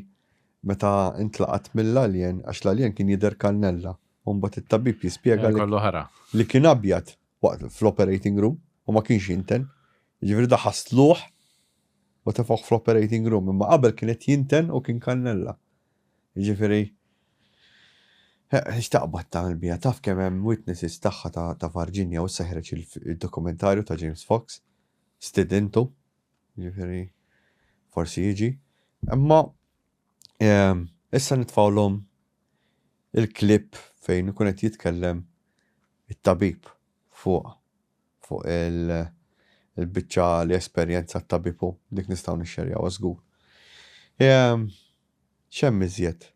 meta intlaqat mill-alien għax l-alien kien jidher kannella. U mbagħad it-tabib jispjega li. Kollu ħara. Li kien abjad waqt fl-operating room u ma kienx jinten. Jiġifieri da ħasluh u tefaħ fl-operating room, imma qabel kien qed jinten u kien kannella. Jiġifieri Xtaqbad ta' l-bija, taf kemm hemm witnesses tagħha ta' Virginia u seħreġ il-dokumentarju ta' James Fox. stidintu, jiġifieri forsi jiġi, imma ehm, issa nitfawlhom il-klip fejn ikun qed jitkellem it-tabib fuq fuq il-biċċa li esperjenza t-tabibu dik nistgħu nixxerjaw żgur. Ehm, X'hemm iżjed?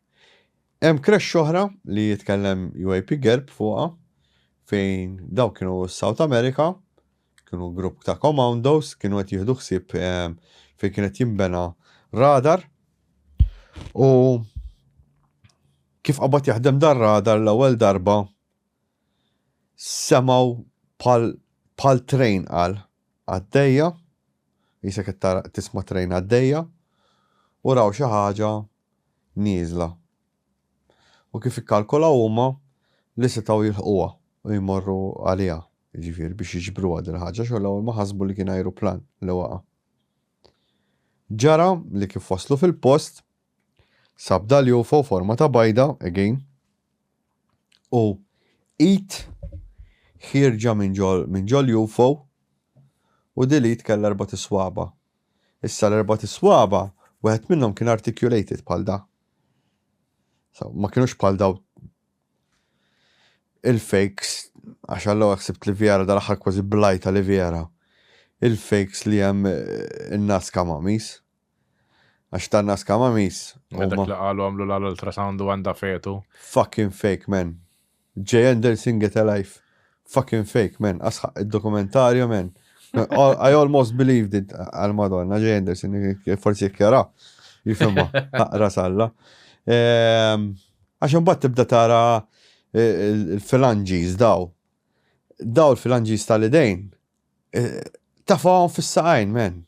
Hemm crèche oħra li jitkellem UAP Gerb fuqha fejn dawk kienu s-South America, kienu grupp ta' comandos, kienu qed jieħdu ħsieb fejn kien qed jinbena radar u kif qabad jaħdem dan radar l-ewwel darba semgħu bħal train qal għaddejja Qisek qed tara qed tisma' train għaddejja u raw xi ħaġa nieżla. U kif ikkalkolaw huma li setgħu jilħquha u jmorru għaliha, jiġifieri biex jiġbruha din il-ħaġa xogħol l-ewwel ma ħasbu li kien ajruplan li waqa'. Ġara li kif waslu fil-post, Sabda li hu fuq forma ta' bajda, again, u id ħierġa minn ġol minn ġol UFO u dil id kellha erbat iswaba. Issa l-erbat iswaba wieħed minnhom kien articulated bħal da. So, ma kienux bħal daw il-fakes, għax għallu għaxib li vjera dal-axar kważi blajta li vjera, il-fakes li jem eh, il-nas kamamis. Għax ta' Nazca Mummies huma. Dak li qalu għamlu l-għal ultrasound u għandha fetu. Fucking fake man. Jay Anderson get a life. Fucking fake man. Asħaq id-dokumentarju man. I almost believed it għal Madonna Jay Anderson forsi jekk jara. Jifhimha. Aqra salla. Ehm, għax imbagħad tibda tara eh, il-filanġiż daw. Daw il-filanġiż tal-idejn. Eh, Tafahom fis-saqajn man.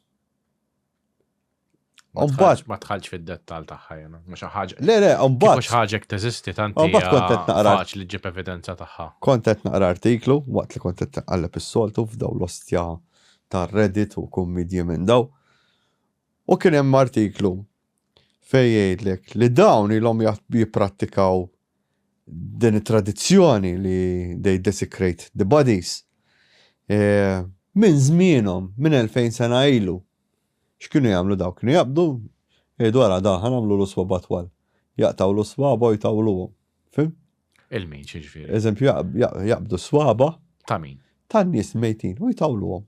Umbat. Ma tħalġ fid-dettal tagħha jena. Mhux ħaġa. Le, le, umbat. Mhux ħaġa teżisti tant. Umbat kontet naqra. Faċ li ġib evidenza tagħha. Kontet naqra artiklu waqt li kontet għalleb is-soltu f'daw l-ostja ta' Reddit u kummedji minn daw. U kien hemm artiklu fej jgħidlek li dawn ilhom jipprattikaw din it-tradizzjoni li they desecrate the bodies eh, minn żmienhom, minn 2000 sena ilu. X'kienu jagħmlu dawk? Kienu jaqbdu eh, dwar għada ħan għamlu l-uswa batwal. Jaqtaw l-uswa boj tawluhom. Fim? Il-min xiġifieri. Eżempju jaqbdu swaba. Ta' min? Ta' nies mejtin u jtawluhom.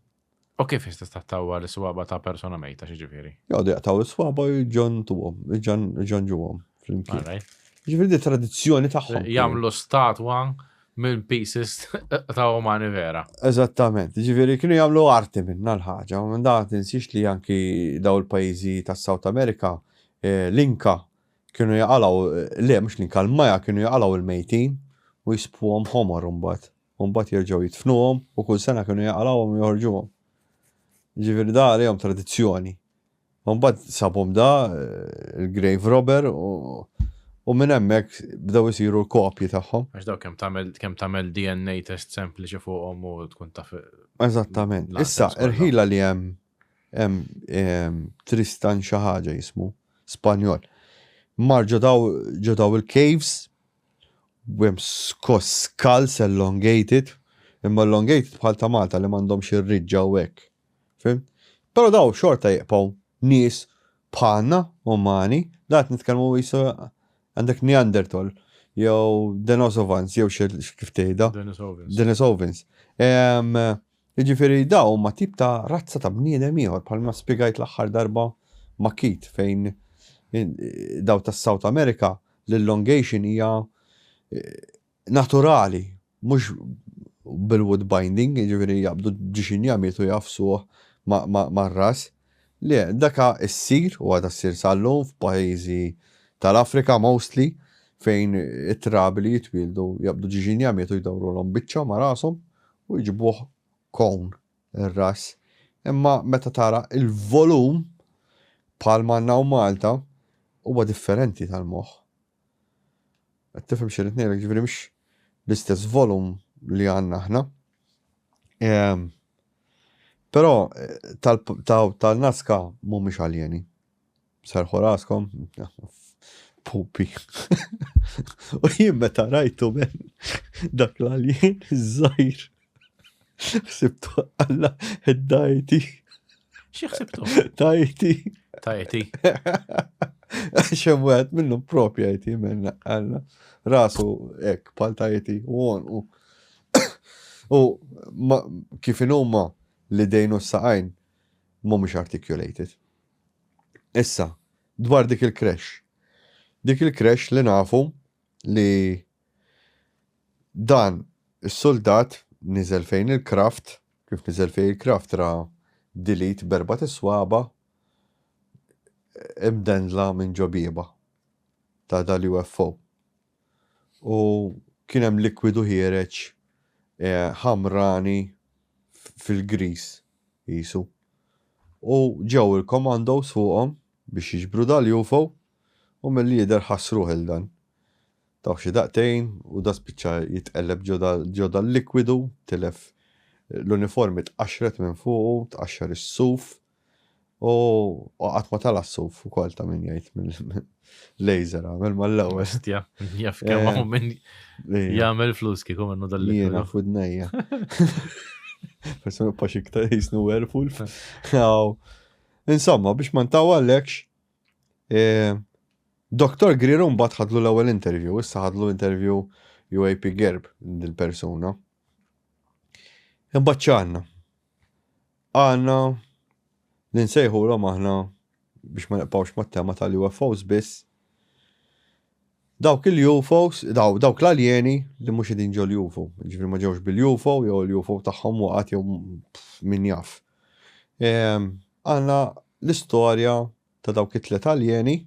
U kif jista' tattawa l-swaba ta' persona mejta xi ġifieri? Jgħodu jaqtaw l-swaba u ġon tuhom, ġon ġuhom flimkien. Ġifieri di tradizzjoni tagħhom. Jagħmlu statwa minn pieces ta' umani vera. Eżattament, ġifieri kienu jagħmlu arti minna l-ħaġa, u minn dan tinsiex li anki daw il-pajjiżi tas-South America eh, l-Inka kienu jaqalaw, eh, le mhux l-Inka l-Maja kienu jaqalaw il-mejtin u jispuhom ħomor imbagħad. u mbagħad jerġgħu jidfnuhom u kull sena kienu jaqalgħuhom u joħorġuhom. Ġifieri da għalihom tradizzjoni. U mbagħad sabhom da il-grave robber u u minn hemmhekk bdew isiru l-kopji tagħhom. Għax daw kemm tagħmel kemm tagħmel DNA test sempliċi fuqhom u tkun taf. Eżattament. Issa, irħila li hemm hemm Tristan xi ħaġa jismu Spanjol. Mar ġo daw il-caves u hemm skoss skulls elongated, imma elongated bħal ta' Malta li m'għandhomx ir-riġġa u hekk. Fhimt? Però dawn xorta jibqgħu nies bħalna, umani, dan qed nitkellmu qisu għandek Neanderthal jew Denosovans jew kif tgħidha. Denisovans. Denisovans. Jiġifieri dawn huma tip ta' razza ta' bniedem ieħor bħalma spjegajt l-aħħar darba ma' Keith fejn dawn tas-South America l-elongation hija naturali mhux bil-wood binding jiġifieri jaqbdu ġiex injamietu jgħaffsuh mar-ras. Le, dak issir u għadha ssir sal-lum f'pajjiżi tal-Afrika mostly fejn it-trabi li jitwieldu jaqbdu ġiex injamietu jdawrulhom biċċa ma' rashom u jġibuh cone ir-ras imma meta tara l-volum bħalma għandna hawn Malta huwa differenti tal-moħħ. Qed tifhem x'irid ngħidlek ġifieri mhux l-istess volum li għandna aħna. Ehm, però eh, tal-naska mhumiex aljeni. Serħu raskom, pupi. U jien meta rajtu men dak l-alien iż-żajr. Sibtu alla id-dajti. Xi ħsibtu? Dajti. Tajti. Xem wieħed minnu propja jti men alla. Rasu ek pal tajti u għon u. U kif inhuma li dejnu s-saqajn mhumiex articulated. Issa, dwar dik il-creche. Dik il-creche li nafu li dan is-suldat niżel fejn il-kraft, kif niżel fejn il-kraft ra dilit berba tiswaba imdendla minn ġobieba ta' dal-UFO. u kien hemm likwidu ħiereġ ħamrani fil-griż qisu. U ġew il-commandos fuqhom biex jiġbru dal-UFO u milli jidher ħass ruħ il dan. Taw xi daqtejn u da spiċċa jitqelleb ġo dal-likwidu, tilef l-uniformi tqaxxret minn fuqu, tqaxxar is-suf, U qatt ma tala s-suf ukoll ta' min jgħid mill-laser għamel mal-ewwel. Stja, jaf kemm hawn min jagħmel flus kieku minnu dal-li. Jiena fudnejja. Persuna pax iktar jisnu werewolf. Insomma, biex ma ntawa l-ekx, eh, Dr. Greer un bat ħadlu l-ewwel interview, issa ħadlu interview UAP Gerb dil-persuna. Imbagħad ċanna. Għandna li nsejħulhom aħna biex ma nibqgħux mat-tema tal-UFOs biss. Dawk il-UFOs, daw, dawk l-aljeni li mhux qegħdin ġol UFO, ġifri ma ġewx bil-UFO jew l-UFO tagħhom waqgħet jew min jaf. Ehm, għandna l-istorja ta' dawk it-tlet aljeni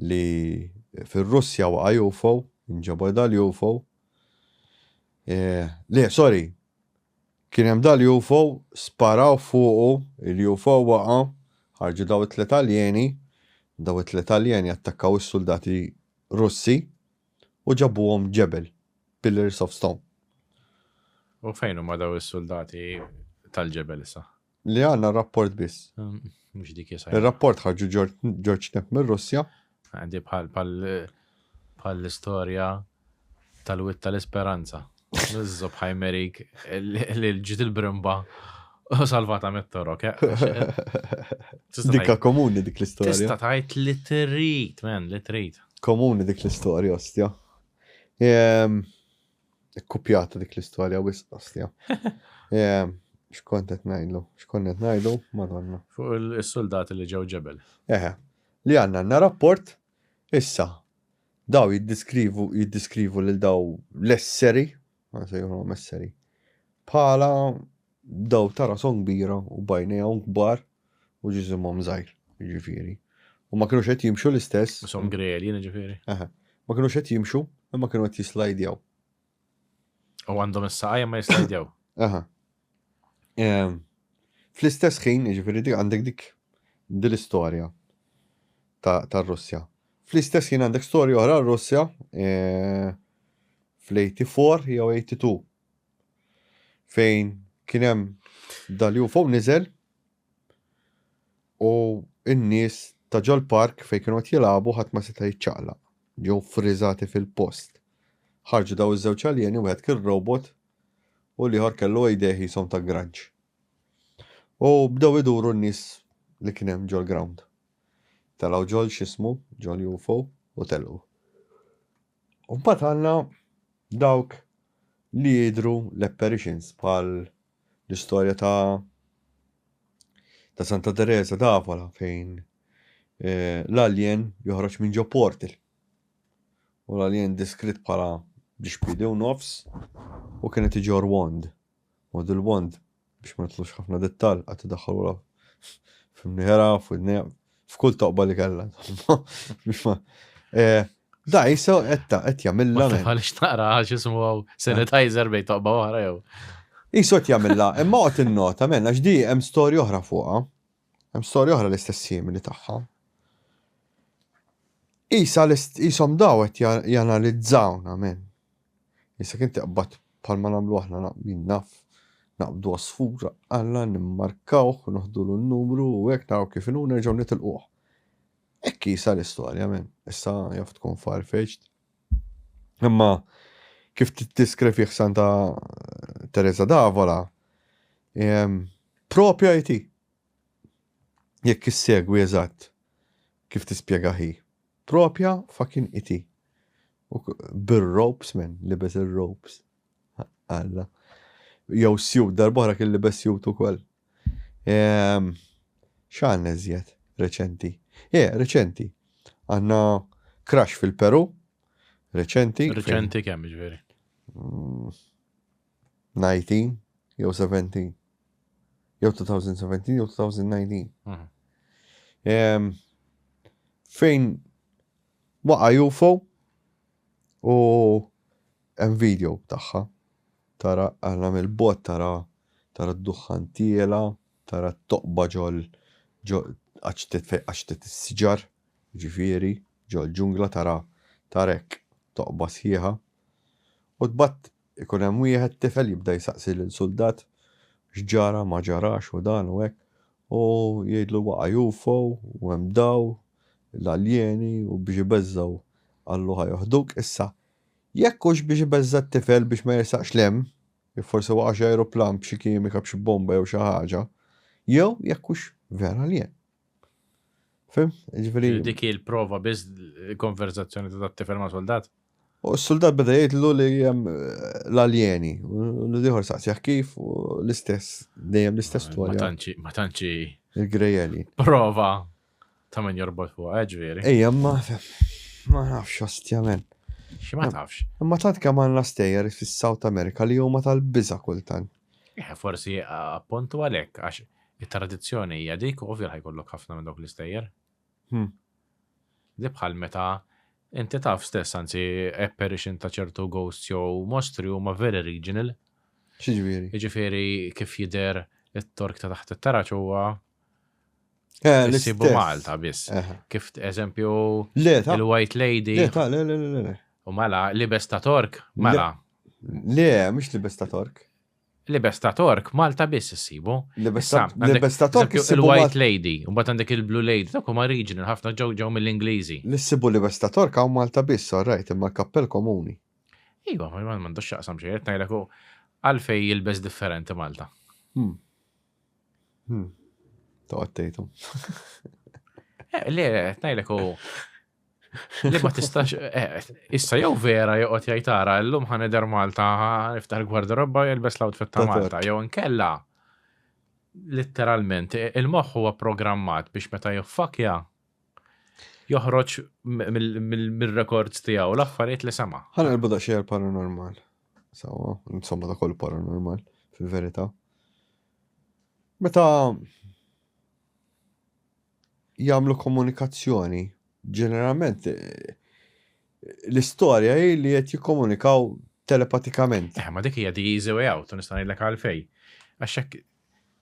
li fir-Russja waqa' UFO, inġabor dal-UFO. Eh, le, sorry, Kien hemm dal-UFO, sparaw fuqu, il-UFO waqa', ħarġu daw it-tliet aljeni, daw it-tliet aljeni attakkaw is-suldati Russi u ġabuhom ġebel, pillars of stone. U fejn huma daw is-suldati tal-ġebel issa? Li għandna rapport biss. Ehm, mhux dik jisa. Ir-rapport ħarġu George Knapp mir-Russja. Għandi bħal bħal l-istorja tal-witt tal-isperanza. Nizzob ħajmerik li l-ġit il-brimba u salvata mit-torok. Dikka komuni dik l-istorja. Tista tajt li trit, men, li trit. Komuni dik l-istorja, ostja. Ehm, Ikkupjata dik l-istorja wisq qasja. Xkont qed ngħidlu, xkont qed ngħidu, madonna. Fuq is-suldati li ġew ġebel. Eħe. Li għandna għandna rapport issa daw jiddiskrivu jiddiskrivu lil daw l-esseri, ma sejħulhom esseri, bħala Bdew ta' rashom kbira u b'għajnejhom kbar u ġisimhom żgħir, jiġifieri, u ma kinux qed jimxu l-istess. Rashom grelji, jiġifieri. Eħe. Ma kinux qed jimxu, imma kienu qed jislajdjaw. U għandhom is-saqajn ma jislajdjaw. Eħe. Fl-istess ħin, jiġifieri dik għandek dik din l-istorja tar-Russja. Fl-istess ħin għandek storja oħra r-Russja fl-84 jew 82. fejn kien hemm dal-UFO niżel u n-nies ta' ġol-park fejn kienu qed jilagħbu ħadd ma seta' jiċċaqlaq. Ġew friżati fil-post. Ħarġu daw iż-żewġ aljeni wieħed kien robot u l-ieħor kellu idejh jisom ta' grunge. U bdew iduru n-nies li kien hemm ġol-ground. Telgħu ġol x'ismu, ġol-UFO u telqu. U mbagħad għandna dawk li jidhru l-apparitions bħal l-istorja ta' ta' Santa Teresa d'Avola fejn eh, l-alien joħroġ minn ġo portal. U l-alien diskrit bħala biex bidi u nofs u kienet iġor wand. Model Wand, biex ma nidħlux ħafna dettall, qagħad tiddaħħal wara f'imnieħerha, f'widnejha, f'kull toqba li kellha, insomma, biex ma. Eh, da jisa qed qed jagħmilha. Għaliex taqra għax ismu sanitizer bejn toqba oħra jew. Isu qed jagħmilha, imma qed innota men għax di hemm storja oħra fuqha. Hemm storja oħra l-istess simili tagħha. Isa l-isom daw qed janalizzawna men. Jekk inti tqbad bħalma nagħmlu aħna naqbdin naf, naqbdu għasfur, alla nimmarkawh, noħdulu n-numru u hekk naraw kif inhu nerġgħu nitilquh. Hekk qisha l-istorja men. Issa jaf tkun far-fetched. Imma kif tiddiskrivih Santa Teresa d'Avola, ehm, propja jti. Jekk issegwi eżatt kif tispjega hi. Propja fucking iti. U bir ropes men, libes il ropes Alla. Jew sjut, darbohra kien libes sjut ukoll. Ehm, Xan eżjed, reċenti. Eh, reċenti. Għanna crash fil-Peru. Reċenti. Reċenti kemm ġveri? Mm. 19 jew 17. Jew 2017 jew 2019. Mhm. Em, Fejn waqa UFO u hemm video tagħha. Tara għandha mill-bot tara tara d-duħħan tiela, tara t-toqba ġol ġol għax tit fejn għax tit is-siġar, ġifieri, ġol ġungla tara tarek toqba sħiħa. U tbatt Ikun hemm wieħed tifel jibda jsaqsi lil suldat x'ġara, ma ġarax u dan u hekk, u jgħidlu waqa' UFO u hemm daw l-aljeni u biex ibeżżgħu qallu ħa joħduk. Issa, jekk hux biex ibeżża' t-tifel biex ma jersaqx 'l hemm, jekk forsi waqa' xi ajruplan b'xi kimika b'xi bomba jew xi ħaġa, jew jekk hux vera aljen. Fim? Ġifiri. Dik il-prova biz konverzazzjoni ta' tifel ma' soldat. U s-soldat beda jgħidlu li jem eh, l-aljeni, u l-liħor saqsjaħ kif, u l-istess, dejjem l-istess tu għalja. Ma tanċi. Il-grejeli. Prova ta' minn jorbot fuq, eh, ġviri. Ejja, ma ma nafx ostjament. Xi ma tafx. Ma tant kemm għandna stejjer fis-South America li huma tal-biża kultant. Eh, forsi appuntu għalhekk għax it-tradizzjoni hija dik u ovvja ħajkollok ħafna minn dawk l-istejjer. Hmm. Di bħal meta inti taf stess anzi apparition ta' ċertu ghosts jew mostri huma very regional. Xiġifieri. Jiġifieri kif jidher it-tork ta' taħt it-taraċ huwa eh, Sibu Malta biss. Eh. Kif eżempju il-White Lady. Le, le, le, le. U mela, libes ta' tork, mela, Le, mhux libes ta' Tork. Libes ta' Tork Malta biss issibu. Libes ta' Tork il-White Lady, u mbagħad għandek il-Blue Lady, dawk huma regional ħafna ġew ġew mill-Ingliżi. Li ssibu libes ta' Tork hawn Malta biss, all right, imma l-kappell komuni. Iva, ma m'għandux x'jaqsam xejn, qed ngħidlek għalfejn jilbes differenti Malta. Toqgħod tgħidhom. Le, qed ngħidlek Li ma tistax, eh, issa jew vera joqgħod jgħid ara llum ħaneder Malta niftaħ il-gwardarobba jelbes l-outfit ta' Malta jew inkella litteralment il-moħħ huwa programmat biex meta jiffakja joħroġ mill-rekords tiegħu l-affarijiet li sema. Ħana l-buda xejn paranormal. Sawa, insomma da kollu paranormal fil-verità. Meta jagħmlu komunikazzjoni. Ġeneralment l-istorja hi li qed jikkomunikaw telepatikament. Eh, ma dik hija the easy way out, u nista' ngħidlek għalfej. Għax hekk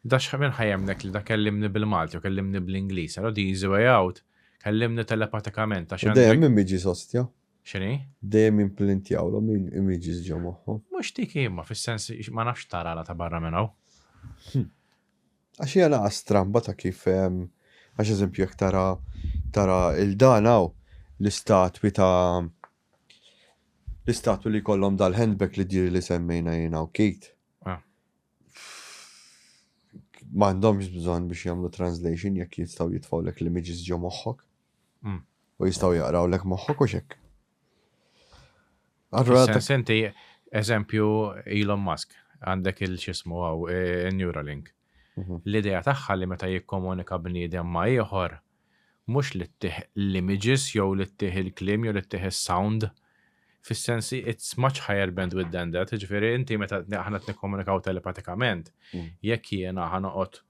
dax minn ħajemnek li da kellimni bil-Malti u kellimni bl-Ingliż, għal the easy way out, kellimni telepatikament għax. Dejjem minn miġi sostja. Xini? Dejjem implintjaw l min imiġi ġo moħħu. Mhux dik imma fis-sens ma nafx tara ta' barra minn hawn. Hmm. Għax hija naqa' stramba ta' kif għax eżempju jekk tara tara il dan hawn l-istatwi ta' l-istatwi li jkollhom dal-handbag li diri li semmejna jien hawn Kate. M'għandhomx bżonn biex jagħmlu translation jekk jistgħu jitfgħulek l-images ġo moħħok. U jistgħu jaqrawlek moħħok u x'hekk. Allura senti eżempju Elon Musk għandek il-xismu għaw e, Neuralink. Mhm. L-idea tagħha li meta jikkomunika bniedem ma' ieħor mhux li ttih l-images jew li ttih il-klim jew li ttih is-sound fis-sensi it's much higher bandwidth than that, ġifieri inti meta aħna nikkomunikaw telepatikament, mm. jekk jiena ħanoqgħod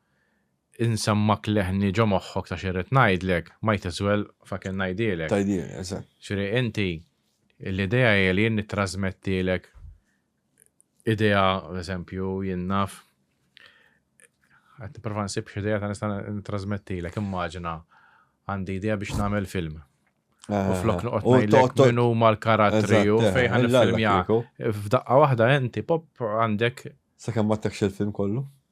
Insemmak leħni ġo moħħok ta' x'irrid ngħidlek, might as well fucking ngħidielek. Tgħidielek, eżatt. Ġifieri inti, l-idea hi li jien nittrażmettielek idea, eżempju, jien naf, qed nipprova nsib x'idea ta' nista' nittrażmettielek, immaġina għandi idea biex nagħmel film. Eh, u flok noqgħod ngħidlek min huma l-karattri u eh, fejn il-film F'daqqa waħda inti pop għandek. Sakemm ma tekx il-film kollu?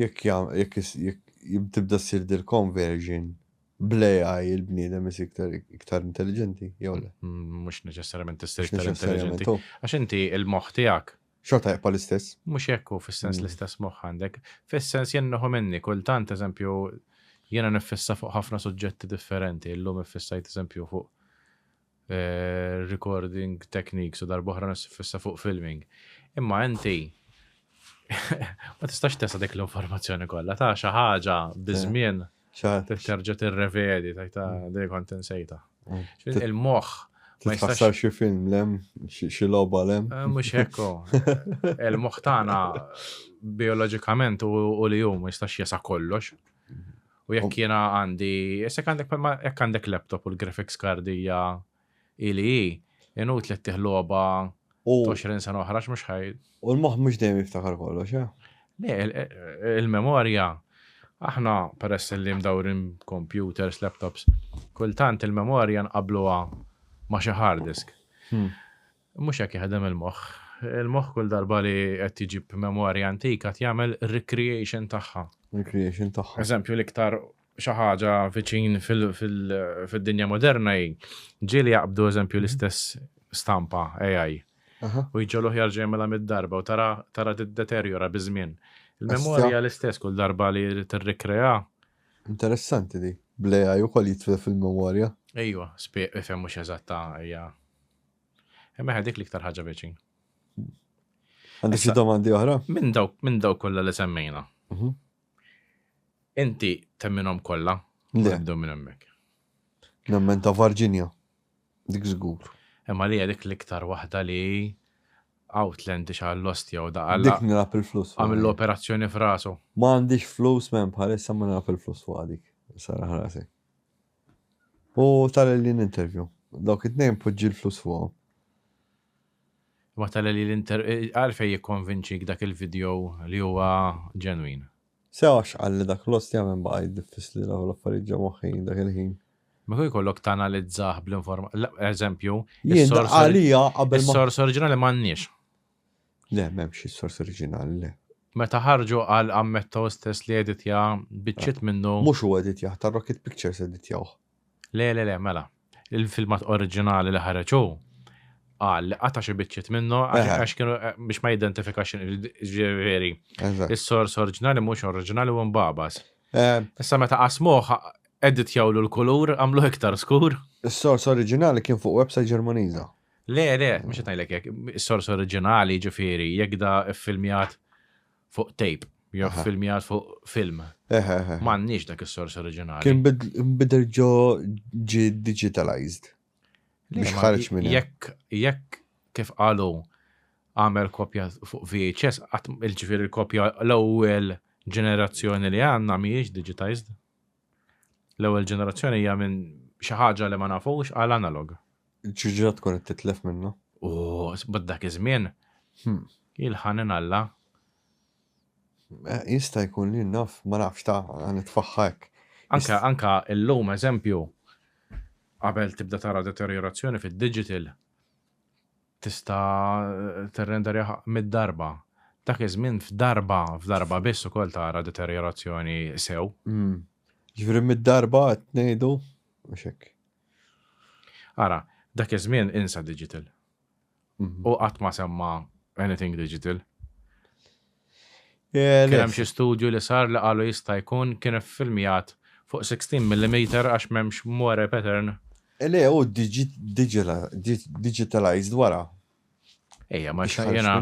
Jekk jekk jekk tibda ssir dil conversion bl-AI il-bniedem is iktar iktar intelligenti jew le? Mhux neċessarjament tista' iktar intelligenti. Għax inti il-moħħ tiegħek. Xorta jibqa' l-istess. Mhux hekk hu fis-sens l-istess moħħ għandek. Fis-sens jien nieħu minni kultant eżempju jiena niffissa fuq ħafna suġġetti differenti. Illum iffissajt eżempju fuq recording techniques u darba oħra nissiffissa fuq filming. Imma inti ma tistax tesa dik l-informazzjoni kollha ta' xi ħaġa biżmien terġa' tirrevedi tajta mm. dejjem kont insejta. Mm. Il-moħħ ma jistax xi film lem, xi logħba lem. Eh, mhux hekko. Il-moħħ tagħna bioloġikament u li jum ma jistax jesa kollox. U jekk jiena għandi, jessek għandek palma jekk għandek laptop u l-graphics card hija ili hi, inut li tiħloba 20 sena oħra mhux ħaj. U l-moħħ mhux dejjem jiftakar kollox, eh? Le, il-memorja, aħna peress li mdawrin computers, laptops, kultant il-memorja nqabluha ma' xi hard disk. Hmm. Mhux hekk jaħdem il-moħħ. Il-moħħ kull darba li qed iġib memorja antika qed jagħmel recreation tagħha. Recreation tagħha. Eżempju l-iktar xi ħaġa viċin fid-dinja moderna hi ġieli jaqbdu eżempju l-istess stampa AI. U jġoluh jarġa' jagħmilha mid-darba u tara tiddeterjora biż-żmien. Il-memorja l-istess kull darba li tirrikrea. Interessanti di. Bl-AI ukoll jitfilha fil-memorja. Ejwa, spieq ifhem mhux eżatta hija. Imma dik l-iktar ħaġa veċin. Għandi xi domandi oħra? Minn dawk minn dawk kollha li semmejna. Mhm. Inti temminhom kollha? Le. Nibdew minn hemmhekk. Nemmen ta' Virginia. Dik żgur. Imma li dik l-iktar waħda li Outland xa l-lost jew da għalla. Dik nilab il-flus. Għamil l-operazzjoni frasu. Ma għandix flus men bħalissa ma nilab il-flus fuq dik. Sara ħrasi. U tagħlel jien interview. Dawk it-tnejn poġġi l-flus fuqhom. Imma tagħlel jien interview. Għalfejn jikkonvinċik dak il-video li huwa ġenwin? Sew għax qalli dak l-ost jagħmel nbaqa' jiddiffisli nagħmel l-affarijiet ġo moħħi dak il-ħin. Ma kieku jkollok tanalizzah bl-inform. Eżempju, Jien dak qalija qabel ma. Is-sors oriġinali m'għandniex. Le, m'hemmx is-sors oriġinali, le. Meta ħarġu qal ammetta hu stess li editja biċċiet minnu. Mhux hu editjah, tar-Rocket Pictures editjawh. Le, le, le, mela. Il-filmat oriġinali li ħareġ hu qal li qata' xi biċċiet minnu għax kienu biex ma jidentifikax ġifieri. Is-sors oriġinali mhux oriġinali u mbabas. Issa meta qasmuh editjawlu l-kulur għamlu iktar skur. Is-sors oriġinali kien fuq website Ġermaniża. Le, le, mhux qed ngħidlek hekk, is-sors oriġinali ġifieri jekk da ffilmjat fuq tape jew ffilmjat fuq film. M'għandniex dak is-sors oriġinali. Kien bidel ġo ġi digitalized. Biex ħarġ minn. Jekk jekk kif qalu għamel kopja fuq VHS, il-ġifieri l-kopja l-ewwel ġenerazzjoni li għandna mhijiex digitized. L-ewwel ġenerazzjoni hija minn xi ħaġa li ma nafux għal analog. Ġiġa tkun qed titlef minnu. U bad dak iż-żmien hmm. il-ħanin Alla. Eh, jista' jkun li naf, ma nafx ta' nitfaħħa hekk. Anka anka illum eżempju qabel tibda tara deteriorazzjoni fid-digital Tista' tirrenderjah mitt darba. Dak iż-żmien f'darba, f'darba biss ukoll tara deterjorazzjoni sew. Jiġifieri mitt darba qed ngħidu biex hekk. Ara, dak iż-żmien insa digital. Hu qatt ma semma anything digital. Kien hemm xi studju li sar li qalu jista' jkun kien iffilmjat fuq 16 millimeter għax m'hemmx moire pattern. Le hu digitalized wara. Ejja ma xtaq jiena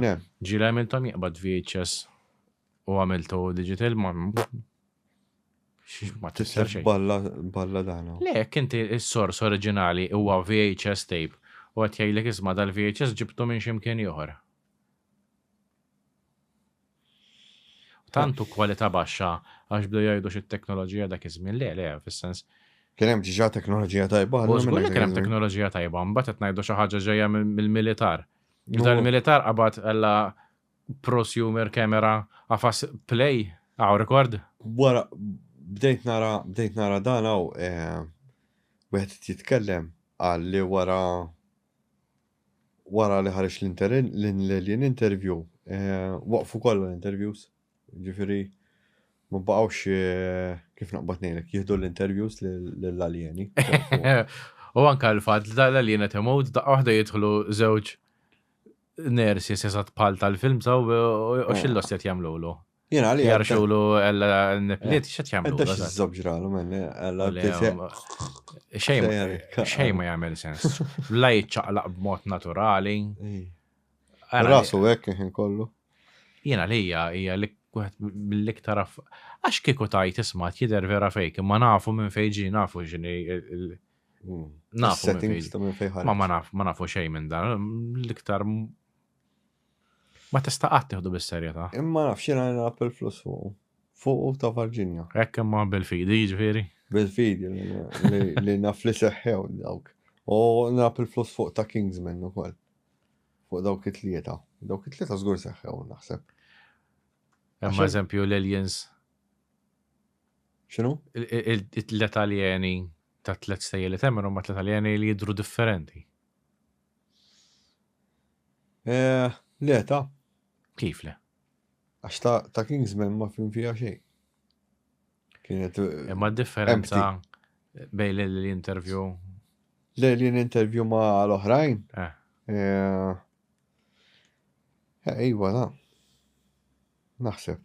ġieli għamilthom jiqbad VHS u għamiltu digital ma ma tisser xejn. Balla balla dana. Le jekk inti s-sors oriġinali huwa VHS tape u qed jgħidlek isma' dal-VHS ġibtu minn xi mkien ieħor. Tant u kwalità baxxa għax bdew jgħidu xi teknoloġija dak iż-żmien le le fis-sens. Kien hemm diġà teknoloġija tajba allura. Żgur li kien hemm teknoloġija tajba, mbagħad qed ngħidu xi ħaġa ġejja mill-militar. Bidal il-militar qabad ella prosumer camera għafas play għaw rekord. Wara bdejt nara bdejt nara dan hawn wieħed jitkellem qal li wara wara li ħareġ l-alien interview, eh, waqfu kollha l-interviews, ġifiri, ma baqgħux eh, kif naqbad ngħidlek, jieħdu l-interviews lill-aljeni. U anka l-fatt li tal-alien qed imut daqqa waħda jidħlu żewġ nersi sesat pal tal-film saw u xillos qed jagħmlulu. Jena li. Jarxulu għalla n-nipliet, xet jamlu. Għadda xizzob ġralu minn għalla Xej ma jgħamil sens. La jċaqlaq b'mod naturali. Rasu għek jħin kollu. Jena li hija hija li mill-iktar għax kieku tajt isma' jider vera fejk, ma nafu minn fejġi nafu ġini mm. nafu minn fejġi. Ma ma nafu xejn minn dan, l-iktar Ma tista' qatt tieħdu bis-serjetà. Imma nafx jiena nilgħab il-flus fuq. Fuq ta' Varġinja. Hekk imma bil-fidi jiġifieri? Bil-fidi li naf li seħħew dawk. U nilgħab il-flus fuq ta' Kingsman ukoll. Fuq dawk it-tlieta. Dawk it-tlieta żgur seħħew naħseb. Hemm eżempju l-aliens. X'inhu? Il-tliet aljeni ta' tliet stejjeli temmen huma tliet aljeni li jidru differenti. Eh, le ta. Kif le? Għax ta', ta Kingsman ma fim fija xejn. Kienet. Eh, Imma differenza bej l-intervju. Le li l-intervju ma l-oħrajn. Eh. eh. eh iwa, na. Naħseb.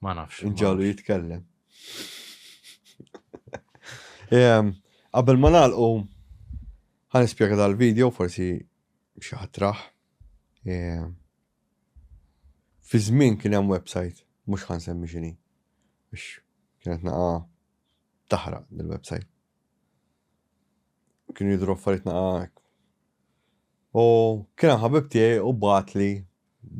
Ma nafx. Ġalu jitkellem. Ehm, qabel ma nagħlqu ħan ispjega dal-video forsi xi ħatraħ. Ehm, fi żmien kien hemm website, mhux ħan semmi xini. Biex kienet naqa taħraq dil-website. Kien jidru affarijiet naqa. U kien ħabib tiegħi u batli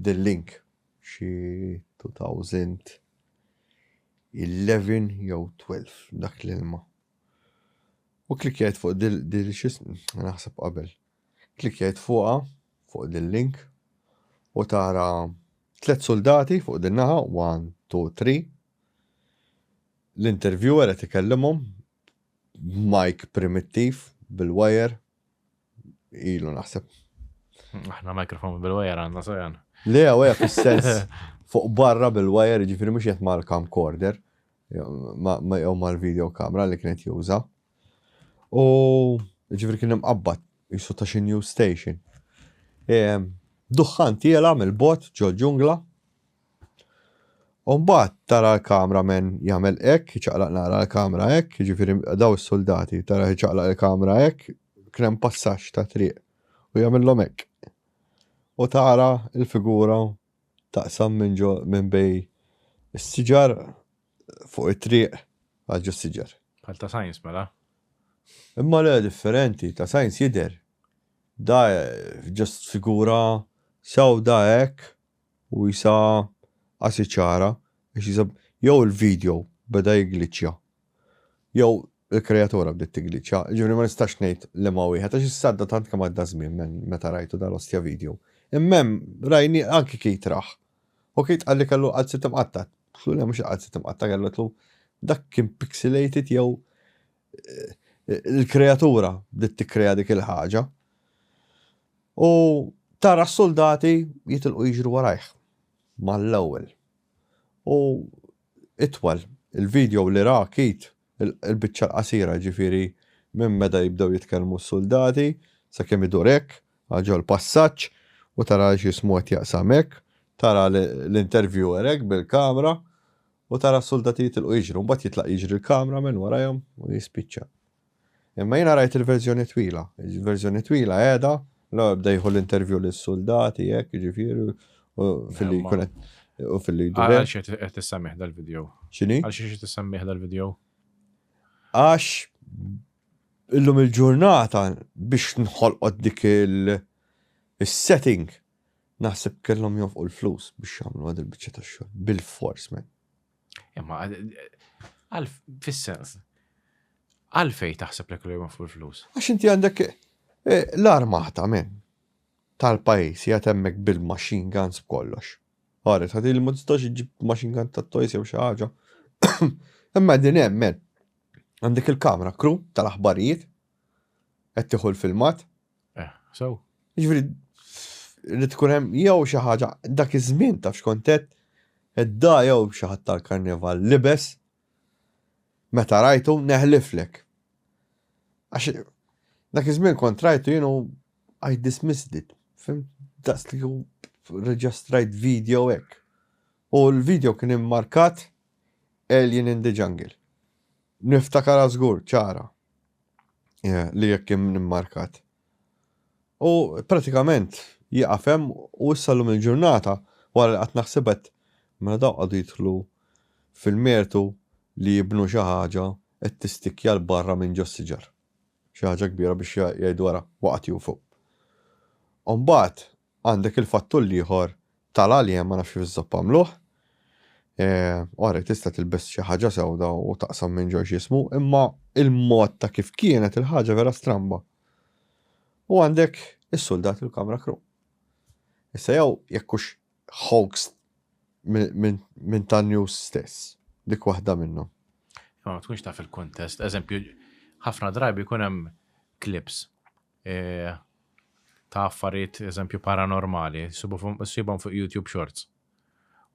The link xi 2011 jew 12 dak l-ilma. U klikjajt fuq dil dil xis naħseb qabel. Klikjajt fuqha fuq dil link u tara tliet soldati fuq din naħa 1 2 3 l-interviewer qed ikellimhom b'majk primittiv bil-wire ilu naħseb. Aħna mikrofon bil-wajer għandna sojan. Le, għaja fil-sens fuq barra bil-wajer ġifiri mux jett mal camcorder ma jew mal-video kamera li kienet juża. U ġifiri kien imqabbat jisu ta' xi new station. Duħħan tiela mill-bot ġo ġungla U mbagħad tara l-kamra men jagħmel hekk, iċaqlaq nara l-kamra hekk, jiġifieri daw is-suldati tara iċaqlaq il-kamra hekk, kien hemm passaġġ ta' triq u jagħmilhom hekk. U tara l-figura taqsam minn ġo minn bej is-siġar fuq it-triq għal ġo s-siġar. Bħal ta' sajns mela. Imma le differenti, ta' sajns jidher. Da just figura sewda hekk U isa qasi ċara għax isa jew il-video beda jiggliċċja jew il-kreatura bdiet tiggliċċja, jiġifieri ma nistax ngħid liema wieħed għax issa għadda tant kemm għadda żmien minn meta rajtu dal-ostja video. Imma hemm rajni anki Keith rah. U Keith qalli kellu l-qalziet imqatta'. Qtlu le mhux il-qalziet imqatta' kellu qtlu dak kien pixelated jew il-kreatura bdiet tikkrea dik il-ħaġa u tara s-soldati jitilqu jiġru warajh mal-ewwel. U itwal il-video li ra kit il-biċċa l-qasira ġifiri minn meta jibdew jitkellmu s-soldati sa kemm idur hekk ġol passaġġ u tara x'ismu qed jaqsam hekk, tara l-interviewer hekk bil-kamra u tara s-suldati jitilqu jiġru, mbagħad jitlaq jiġri l-camera man warajhom u jispiċċa. Imma jiena rajt il-verżjoni twila, il-verżjoni twila qiegħda, l-ewwel bda jieħu l-interview lis-suldati hekk jiġifieri u filli jkun qed u filli jdur. Għal xi qed tissemmih dal-video? X'inhi? Għal xi qed tissemmih dal-video? Għax illum il-ġurnata biex nħolqot dik il-setting Naħseb kellhom jonfqu l-flus biex jagħmlu għad il-biċċa tax-xogħol. Bil-fors, men. Imma għal fis-sens. Għalfej taħseb li kellhom jonfqu l-flus? Għax inti għandek eh, l-armata, men tal-pajis jgħat emmek bil-machine guns b'kollox. Għaret, għad il mudistax iġib machine gun ta' toys jew xaħġa. Imma din emmen, għandek il-kamra kru tal-aħbarijiet, għed tiħu l-filmat, Eh, so. Ġifri, li tkun hemm jew xi ħaġa dak iż-żmien taf x'kontet edda jew xi ħadd tal-karnival libes meta rajtu neħliflek. Għax dak iż-żmien kont rajtu jienu I dismissed it. Fim daqs li reġistrajt video hekk. U l-video kien immarkat Alien in the Jungle. Niftakar żgur ċara. li jekk kien immarkat. U pratikament jieqaf hemm u issa llum il-ġurnata wara li qatt naħsibet mela daw qagħdu jidħlu fil-mertu li jibnu xi ħaġa qed tistikja l barra minn ġo siġar. Xi ħaġa kbira biex jgħidu ara waqgħet jufgħu. U mbagħad Għandek il-fattur l-ieħor tal-għaliem, ma nafx kif iżżopp għamluh. Ora tista' tilbes xi ħaġa sewda u taqsam minn ġo ġismu, imma il-mod ta' kif kienet il-ħaġa vera stramba. U għandek is-suldat il-kamra kru. Issa jew jekk hux hoax minn ta' news stess, dik waħda minnhom. Ma tkunx taf il-kuntest, eżempju, ħafna drabi jkun hemm clips eh, ta' affarijiet eżempju paranormali, sibhom fuq YouTube Shorts.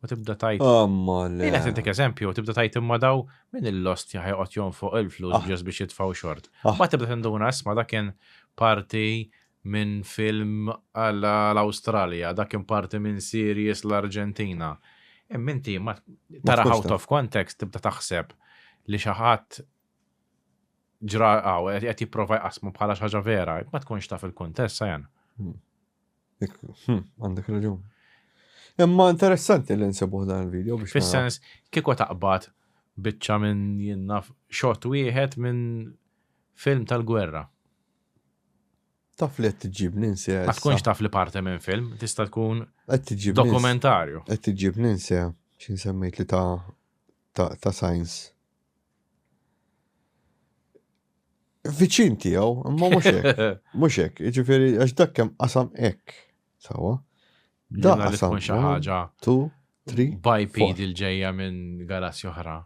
U tibda tajt. Amma le. Jina tintik eżempju, tibda tajt imma daw minn il-lost jaħjaqot jom fuq il-flus ah. ġes biex jitfaw xort. Ah. Ma tibda tinduna isma da kien parti minn film għall-Australia, da kien parti minn series l-Argentina. Imminti, ma tara out of context tibda taħseb li xaħat ġra għaw, għet jiprofa jqasmu bħala xaġa vera, ma tkunx taf il-kontest, sajan. Hmm. Hmm, għandek raġun. Imma interessanti li nsibuħ dan il-video biex. Fis-sens, kiko taqbad bicċa minn jinnaf xot wieħed minn film tal-gwerra. Taf li t-ġib ninsi. Ma tkunx taf li parte minn film, tista tkun dokumentarju. T-ġib ninsi, xin semmejt li ta' science. Viċin tiegħu, imma mhux hekk. Mhux hekk, jiġifieri għax dak kemm qasam hekk. Sawa. Dak qasam xi ħaġa. Tu, tri. Biped il-ġejja minn galassi oħra.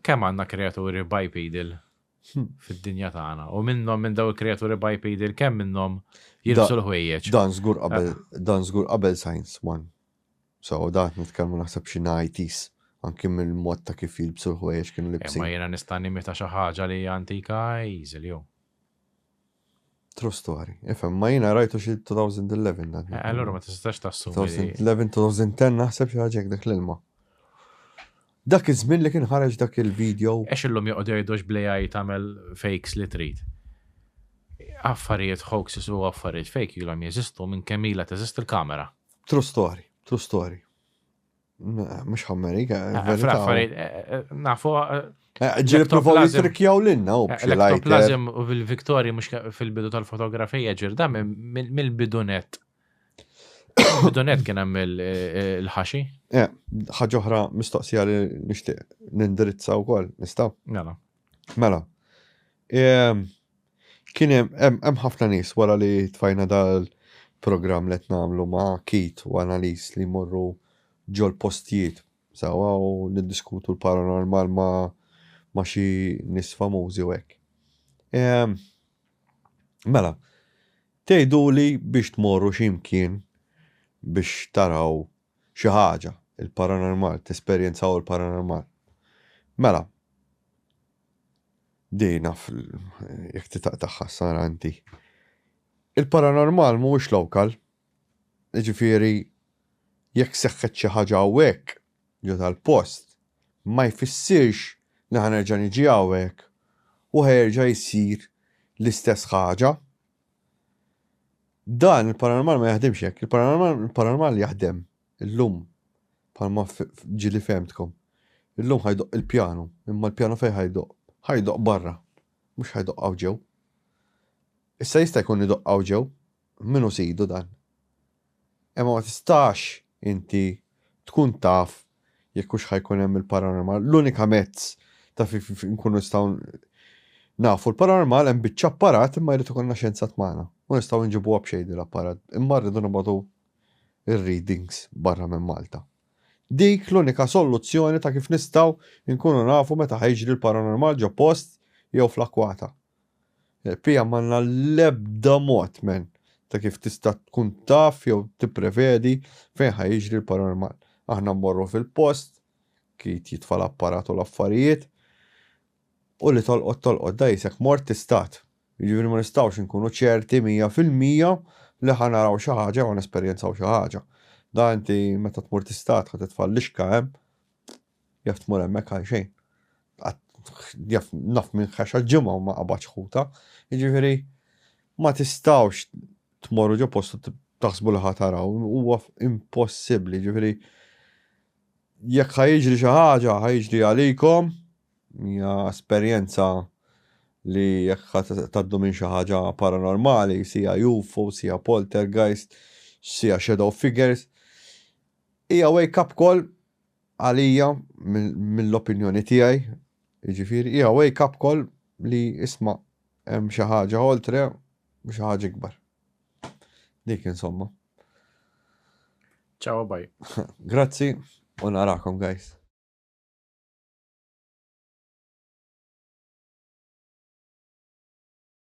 Kemm għandna kreaturi bipedil hmm. fid-dinja tagħna u minnhom minn daw il-kreaturi bipedil kemm minnhom jilbsu l-ħwejjeġ. Dan żgur qabel dan żgur qabel science one. So dat nitkellmu naħseb xi nighties, anki mill-mod ta' kif jilbsu l-ħwejjeġ kienu libsin. Imma jiena nista' nimita xi ħaġa li hija antika easily oh. True story. Ifhem, ma jiena rajtu xi 2011 dan. Eh, allura ma tistax tassumi. 2011, 2010 naħseb xi ħaġa dak l-ilma. Dak iż-żmien li kien ħareġ dak il-video. Ex illum joqgħod jgħidux blejaj tagħmel fakes li trid. Affarijiet hoaxes u affarijiet fake ilhom jeżistu minn kemm ilha teżist il-kamera. True story, true story. Mux ħammerika, eh, verita. Eh, nafu. Eh, ġiri provaw jitrikjaw l-inna u Elektroplazim u fil-Viktori mux fil-bidu tal-fotografija ġirda mill-bidunet. Bidunet kien hemm il-ħaxi. Ħaġoħra mistoqsija li nixtieq nindirizza wkoll, nistgħu? Nala. Mela, ehm, kien hemm ħafna nies wara li tfajna dal-programm li qed nagħmlu ma' kit u analiż li jmorru ġol postijiet sawa u niddiskutu l-paranormal ma' ma' xi nies famużi u hekk. Ehm, mela, tgħidu li biex tmorru xi mkien biex taraw xi ħaġa, il-paranormal, tesperjenzaw il-paranormal. Mela, din naf jekk titaqtaħħa sara inti. Il-paranormal mhuwiex lokal. Jiġifieri jekk seħħet xi ħaġa hawnhekk ġo tal-post, ma jfissirx li ħanerġa' niġi hawnhekk u ħerġa' jsir l-istess ħaġa. Dan il-paranormal ma jaħdimx hekk. Il-paranormal jaħdem illum bħalma ġili fehmtkom. Illum ħajdoq il-pjanu, imma l-pjanu fejn ħajdoq? Ħajdoq barra, mhux ħajdoq hawn ġew. Issa jista' jkun idoq hawn ġew, minu sidu dan? Imma ma tistax inti tkun taf jekk hux ħa jkun hemm il-paranormal. L-unika mezz ta' kif inkunu nistgħu nafu l-paranormal hemm biċċa apparat imma jrid ikollna xjenzat magħna. Mhu nistgħu nġibuha b'xejn din l-apparat imma rridu nibgħatu r-readings barra minn Malta. Dik l-unika solluzzjoni ta' kif nistgħu nkunu nafu meta ħa jiġri l-paranormal ġo post jew fl-akkwata. Pia m'għandna l-ebda mod, man, ta' kif tista' tkun taf jew tipprevedi fejn ħa jiġri l-paranormal. Aħna mmorru fil-post, Keith jitfa' l-apparat u l-affarijiet, u li tolqot tolqot da qisek mort tistat. Jiġifieri ma nistgħux inkunu ċerti mija fil-mija li ħa naraw xi ħaġa jew ħa nesperjenzaw xi ħaġa. Da inti meta tmur tistat ħa titfa' l-lixka hemm. Jaf tmur hemmhekk għalxejn. Jaf naf minn ħax għal-ġimgħa u ma qabadx ħuta. Jiġifieri ma tistgħux tmorru ġo postu taħsbu li ħa taraw, huwa impossibbli, jiġifieri jekk ħa jiġri xi ħaġa ħa jiġri għalikom, hija esperjenza li jekk ħa taddu minn xi ħaġa paranormali, sija UFO, sija poltergeist, sija shadow figures, hija wake up call Għalija, mill-opinjoni tiegħi, jiġifieri, hija wake up call li isma' hemm xi ħaġa oltre u xi ħaġa ikbar. Dik insomma. Ciao bye. Grazzi u narakom guys.